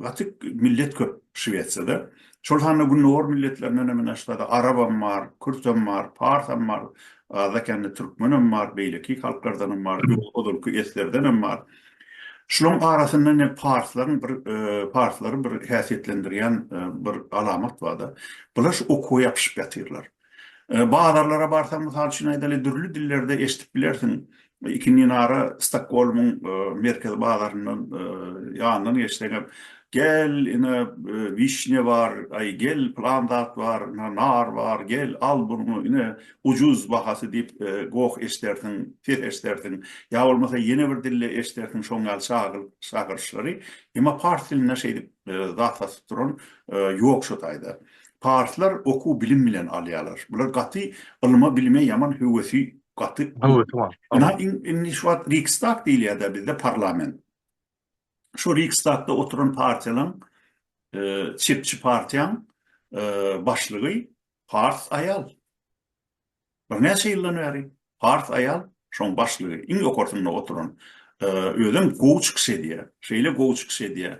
Gaty millet köp Şwesiýada. Şol sanda gündogar milletlerinden hem indi Şwesiýada arabam bar, kürdem bar, parsam bar, azda-kände türkmenem bar, beýleki halklardanam bar, ozalky eslerdenem bar. Şularyň arasynda ine parslaryň bir parslary bir häsiýetlendirýän bir alamat bar-da. Bular şu okuwa ýapyşyp ýatyrlar. Bazarlara barsaň, mysal üçin aýdaly, dürli dillerde eşidip bilersiň, iki minara Stokgolmyň merkezi bazaryndan ýanyndan geçseňem, Gel, ine, wişnýa bar, aý, gel, pylan zat bar, nar bar, gel, al buny, ine, ujuz bahasy diýip goh eşdersiň, ses eşdersiň, ýa bolmasa ýene bir dilde eşdersiň şoň ýaly çagyl çagyryşlary, emma pars dilinde şeýdip zat satyp duran ýok şo taýda. Parslar okuw bilim bilen alýarlar. Bular gaty ylma bilime ýaman höwesi gaty. Höwesi bar. Ina indi şu wagt Riksdag diýilýär-dä bizde parlament. şu Riksdagda oturan partiýalaň çepçi partiýaň başlygy pars aýal. Birnäçe ýyldan bäri pars aýal şoň başlygy iň ýokarsynda oturan özem gowy çykyş edýär. Şeýle gowy çykyş edýär.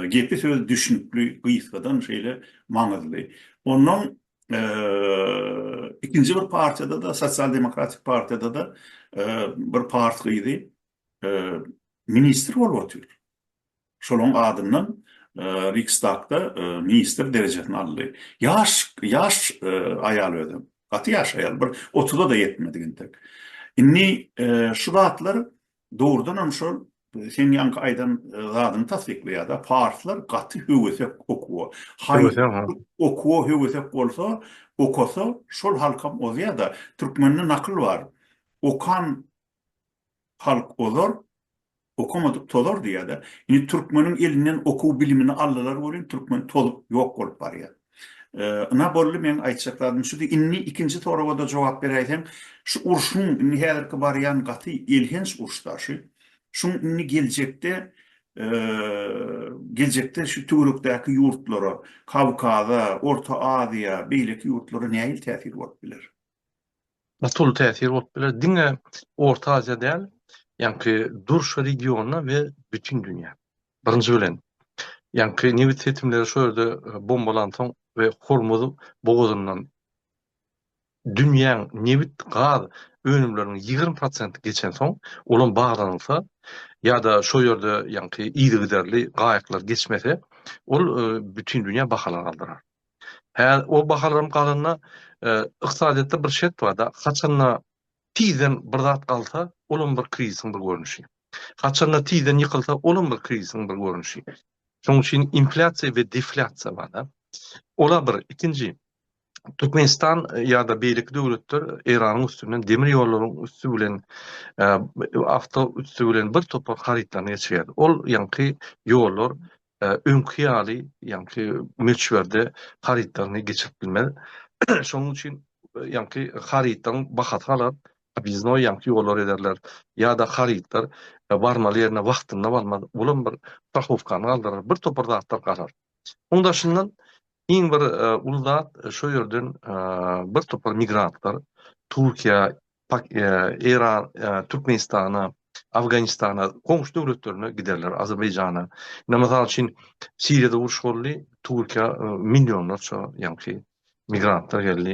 Gepi sözi düşnükli, gysgadan şeýle maňyzly. Ondan ikinji bir partiýada-da, Sosial demokratik partiýada-da bir pars gyzy ministr bolup otyr. Şolaryň adyndan Riksdagda ministr derejesini aldy. Ýaş, ýaş aýal özem. Gaty ýaş aýal, bir otuza-da ýetmedik entek. Indi şu zatlar dogrudan hem şol seň ýaňky aýdan zadyňy tassyklaýar-da, parslar gaty höwesek okuwa. Höwesek, ha. Okuwa höwesek bolsa, okasa, şol halkam ozýar-da. Türkmende nakyl bar. Okan Halk ozar, okamadyk tozar diýýär-de. Indi türkmeniň elinden okuw-bilimini aldylar welin, türkmen tozup, ýok bolup barýar. Ynha, boldy, meň aýtjak zadym şudy. Indi ikinji soraga-da jogap beräýseň, şu urşuň, indi häzirki barýan gaty elhenç urşda şu, şuň indi geljekde, geljekde şu töwerekdäki ýurtlara, Kawkaza, Orta Aziýa, beýleki ýurtlara nähili täsiri bolup biler? Uly täsir bolup biler. Diňe Orta Aziýa däl, ýaňky durşy regiona we bütin dünýä. Birinji bilen, ýaňky nebit setimleri şo ýerde bombalansoň we Hormuz bogazyndan dünýäň nebit, gaz önümleriniň ýigrimi prosenti geçensoň, olam baglanylsa ýa-da şo ýerde ýaňky yzygiderli gaýyklar geçmese, ol bütin dünýä bahalary galdyrar. Hä, o bahalam galanda, ykdysadyýetde bir şert bar-da, haçanda tizden bir zat galsa, olam bir krizisiň bir görnüşi. Haçanda tizden ýykylsa, olam bir krizisiň bir görnüşi. Şonuň üçin inflýasiýa we deflýasiýa bar-da. Ol-a bir. Ikinji, Türkmenistan ýa-da beýleki döwletler Eýranyň üstünden demir ýollaryň üsti bilen, awto üsti bilen birtopar harytlaryny geçirýärdi. Ol ýaňky ýollar öňki ýaly ýaňky möçberde harytlaryny geçirip bilmez. Şonuň üçin ýaňky harytlaryň bahasy galar, obýezdnoý ýaňky ýollary ederler ýa-da harytlar barmaly ýerine wagtynda barmaz. Bulam bir strahowkany galdyrar, bir topar zatlar galar. Onuň daşyndan iň bir uly zat şu ýerden bir topar migrantlar Türkiýä Pak Eýran Türkmenistana Afganistana goňşy döwletlerine giderler Azerbaýjana ine mysal üçin Siriýada uruş boldy Türkiýä millionlarça ýaňky migrantlar geldi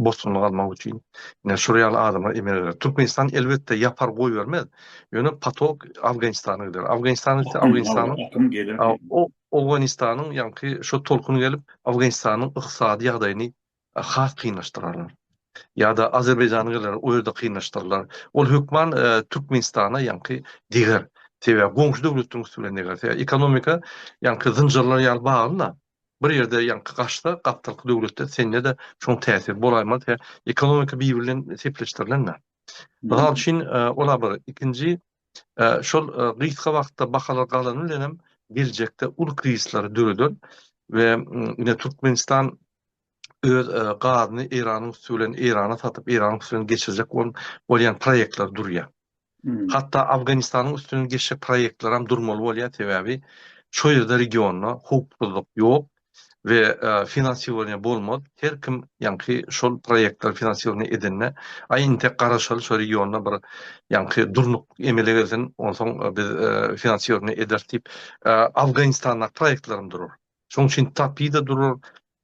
bosgunlyk almak üçin ine şular ýaly adamlar emele geler Türkmenistan elbetde ýapar goýbermez ýöne patok Afganistana gider Afganistana gitse Afganistanyň Owganistanyň ýaňky şo tolkun gelip Afganistanyň ykdysady ýagdaýyny has kynlaşdyrarlar. Ýa-da Azerbaýjana gelerler, o ýerde kynlaşdyrlar. Ol hökman Türkmenistana ýaňky deger. Sebäbi goňşy döwletleriň üsti bilen deger. Sebäbi ekonomika ýaňky zynjyrlar ýaly bagly-da. Bir ýerde ýaňky gaçsa, gapdalky döwletde sende-de şoň täsiri bolaýmaz. Sebäbi ekonomika bir-biri bilen sepleşdirilen-dä. Mysal üçin, ol-a bir. Ikinji, şol gysga wagtda bahalar galany bilen hem geljekde uly krizisleri döreder we ine Türkmenistan öz gazyny Eýranyň üsti bilen Eýrana satyp, Eýranyň üstünden geçirjek bolan bolýan proýektler durýar. Hmm. Hatda Afganistanyň üstünden geçjek proýektler hem durmaly bolýar, sebäbi şu ýerde regionda howpsuzlyk ýok we e, finansirovanie bolmaz. Her kim ýaňky şol proýektler finansirovanie edende, aý intek garaşaly şu regionda bir ýaňky durnuk emele gelsin, onsoň e, biz e, finansirovanie ederis diýip, Afganistanda proýektlerim durur. Şonuň üçin TAPI-de durar,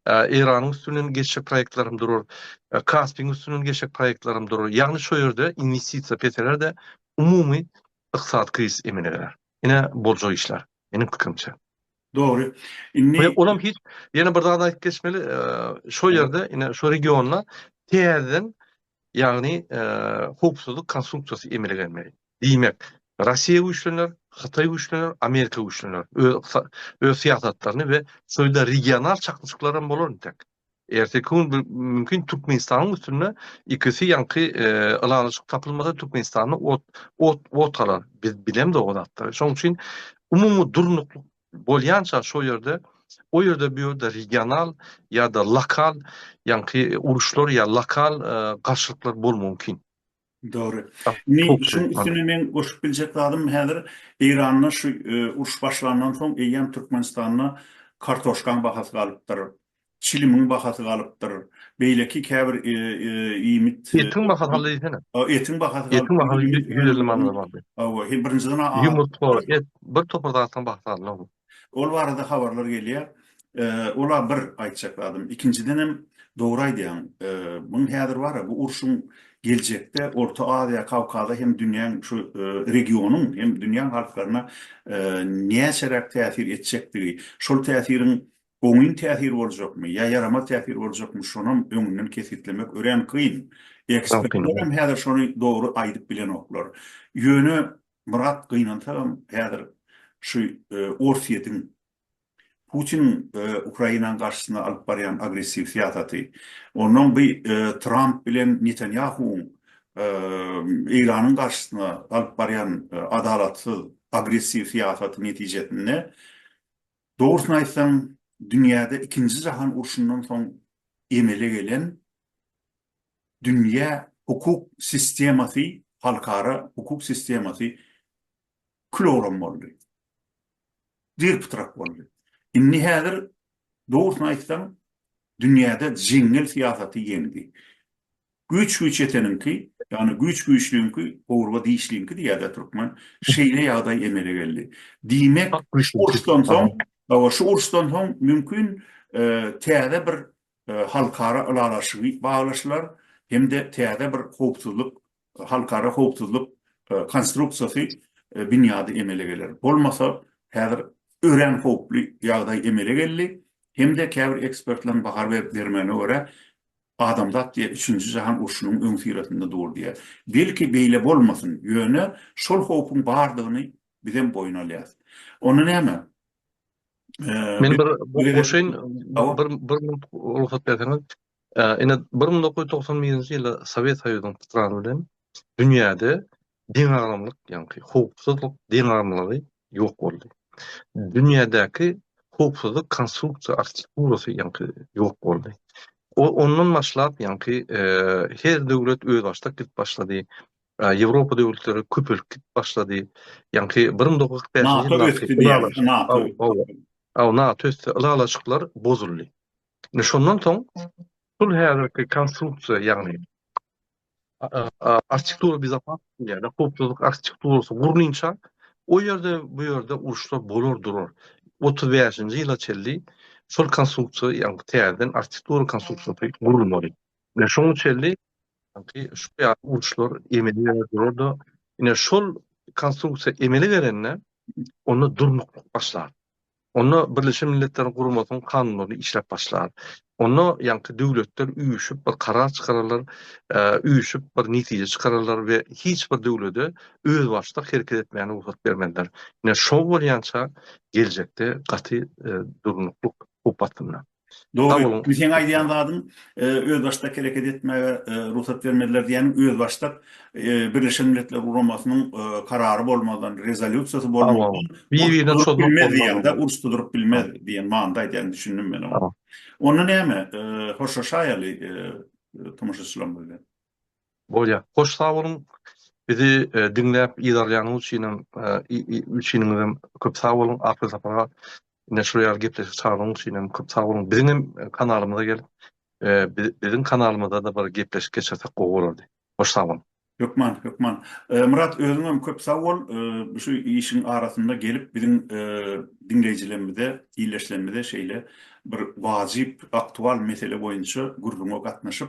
Eýranyň üstünden geçjek proýektlerim durar, Kaspiň üstünden geçjek proýektlerim durar. Ýagny şo ýerde inwestisiýa peseler-de, umumy ykdysady krizis emele geler. Ine, boljak işler, meniň pikirimçe. Dogry. Indi Ýöne olam hiç, ýene bir zady aýdyp geçmeli, şo ýerde, ine, şo regionda täzeden, ýagny, howpsuzlyk konstruksiýasy emele gelmeli. Diýmek, Rossiýa güýçlener, Hytaý güýçlener, Amerika güýçlener. Öz yksa, öz syýasatlaryny we şeýle regional çaknyşyklar hem bolar entek. Erteki gün bir mümkin Türkmenistanyň üstünde ikisi ýaňky e, ylalaşyk tapylmasa Türkmenistanda ot ot ot galar. Biz bilemde o zatda. Şoň üçin umumy durnuklyk bolýança şo ýerde o ýerde bu ýerde regional ýa-da lokal ýaňky uruşlar ýa lokal e, garşylyklar bol mümkin. Dogry. Indi şunuň üstüne men goşup biljek zadym häzir Eýranda şu uruş başlandan soň eýýäm Türkmenistanda kartoşkaň bahasy galypdyr. Çilimiň bahasy galypdyr. Beýleki käbir iýmit. Etiň bahasy galdy diýsene. Etiň bahasy galdy. Etiň bahasy ýüz elli manada bardy. Hawa, birinjiden. Ýumurtga, et, bir topar zadyň bahasy galdy. Ol barada habarlar gelýär. Ola bir aýtjak zadym. Ikinjidenem dogry aýdýaň. Muň häzir bar-a, bu urşuň geljekde Orta Aziýa, Kawkaza hem dünýäň şu regionyň hem dünýäň halklaryna näçeräk täsir etjekdigi, şol täsiriň oňyn täsir boljakmy ýa ýaramaz täsir boljakmy, şonam öňünden kesgitlemek örän kyn. Ekspertlerem häzir şony dogry aýdyp bilenoklar. Ýöne Myrat gynansagam häzir şu Orsýetiň Putiniň Ukrainanyň garşysyna alyp barýan agressiw syýasaty, onnoň bu Tramp bilen Netanýahuwyň Eýranyň garşysyna alyp barýan adalatsyz, agressiw syýasaty netijesinde dogrusyny aýtsaň dünýäde ikinji jahan urşundan soň emele gelen dünýä hukuk sistemasy, halkara hukuk sistemasy külogram boldy. Dyr-pytrak boldy. Indi häzir dogrusyny aýtsaň, dünýäde jeňňel syýasaty ýeňdi. Güýç güýçeteniňki, ýagny güýç güýçlüňki, gowurga dişliňki diýýär-dä türkmen, şeýle ýagdaý emele geldi. Diýmek, uruşdan soň, hawa, şu uruşdan soň mümkin täze bir halkara ylalaşygy baglaşylar hem-de täze bir howpsuzlyk, halkara howpsuzlyk konstruksiýasy, binýady emele geler. Bolmasa, häzir örän howply ýagdaý emele geldi hem-de käbir ekspertleriň baha berip bermegine görä, adamzat diýýär, üçünji jahan urşunyň öňüsyrasynda dur diýýär. Belki beýle bolmasyn, ýöne şol howpuň bardygyny bizem boýun alýarys. Onda näme? Men bir goşaýyn, bir bir minut rugsat berseňiz. Ine, bir müň dokuz ýüz togsan birinji ýylda Sowet Soýuzynyň pytrany bilen dünýäde deňagramlyk, ýagny howpsuzlyk deňagramlygy ýok boldy. Dünýädäki howpsuzlyk konstruksiýa arhitekturasy, ýagny ýok boldy. Ondan başlap, ýagny her döwlet özbaşdak gidip başlady. Ýewropa döwletleri köpelip gidip başlady. Ýaňky bir müň dokuz ýüz kyrk bäşinji ýyllarky ylalaşyklar, aw, NATO ösdi, ylalaşyklar bozuldy. Indi şondan soň şul häzirki konstruksiýa, ýagny arhitektura bezopasnosti diýýärler, howpsuzlyk arhitekturasy gurlynça, o ýerde, bu ýerde uruşlar bolar durar. Otuz bäşinji ýyla çenli şol konstruksiýa, ýagny täzeden arhitektura konstruksiýasy gurulmaly. Ine, şoňa çenli şu ýaly uruşlar emele gelip durar-da, ine, şol konstruksiýa emele gelende, onda durnuklyk başlar. Onda Birleşen Milletleriň Guramasynyň kanunlary işläp başlar. Onda ýaňky döwletler üýşüp bir karar çykararlar, üýşüp bir netije çykararlar we hiç bir döwlete özbaşdak hereket etmäge rugsat bermezler. Ine, şo bolýança geljekde gaty durnuklyk howp astynda. Dogry, indi seň aýdýan zadyň özbaşdak hereket etmäge rugsat bermediler diýýäniň özbaşdak Birleşen Milletler Guramasynyň karary bolmazdan, rezolýusiýasy bolmazdan uruş guduryp bilmez diýen manyda aýdýaňy düşündim men oňa. Onda näme, hoşlaşaýaly tomaşaçylarymyz bilen. Bolýa. Hoş sag boluň. Bizi diňläp yzarlaýanyňyz üçinem üçiniňizem köp sag boluň. Ahir sapara ine şular ýaly gepleşik çagyranyňyz üçinem köp sag boluň. Biziňem kanalymyza gelip biziň kanalymyzada bir gepleşik geçirsek gowy bolardy. Hoş sag boluň. Hökman, hökman. Myrat özüňem köp sag bol. Şu işiň arasynda gelip biziň diňleýjilerimize, ildeşlerimize şeýle bir wajyp, aktual mesele boýunça gürrüňe gatnaşyp,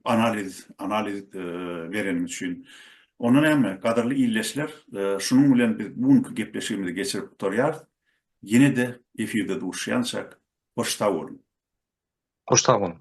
analiz analiz bereniňiz üçin. Onda näme, gadyrly illeşler, şunuň bilen biz bu günki gepleşigimizi geçirip gutarýarys. Ýene-de efirde duşýançak, hoş sag boluň! Hoş sag boluň!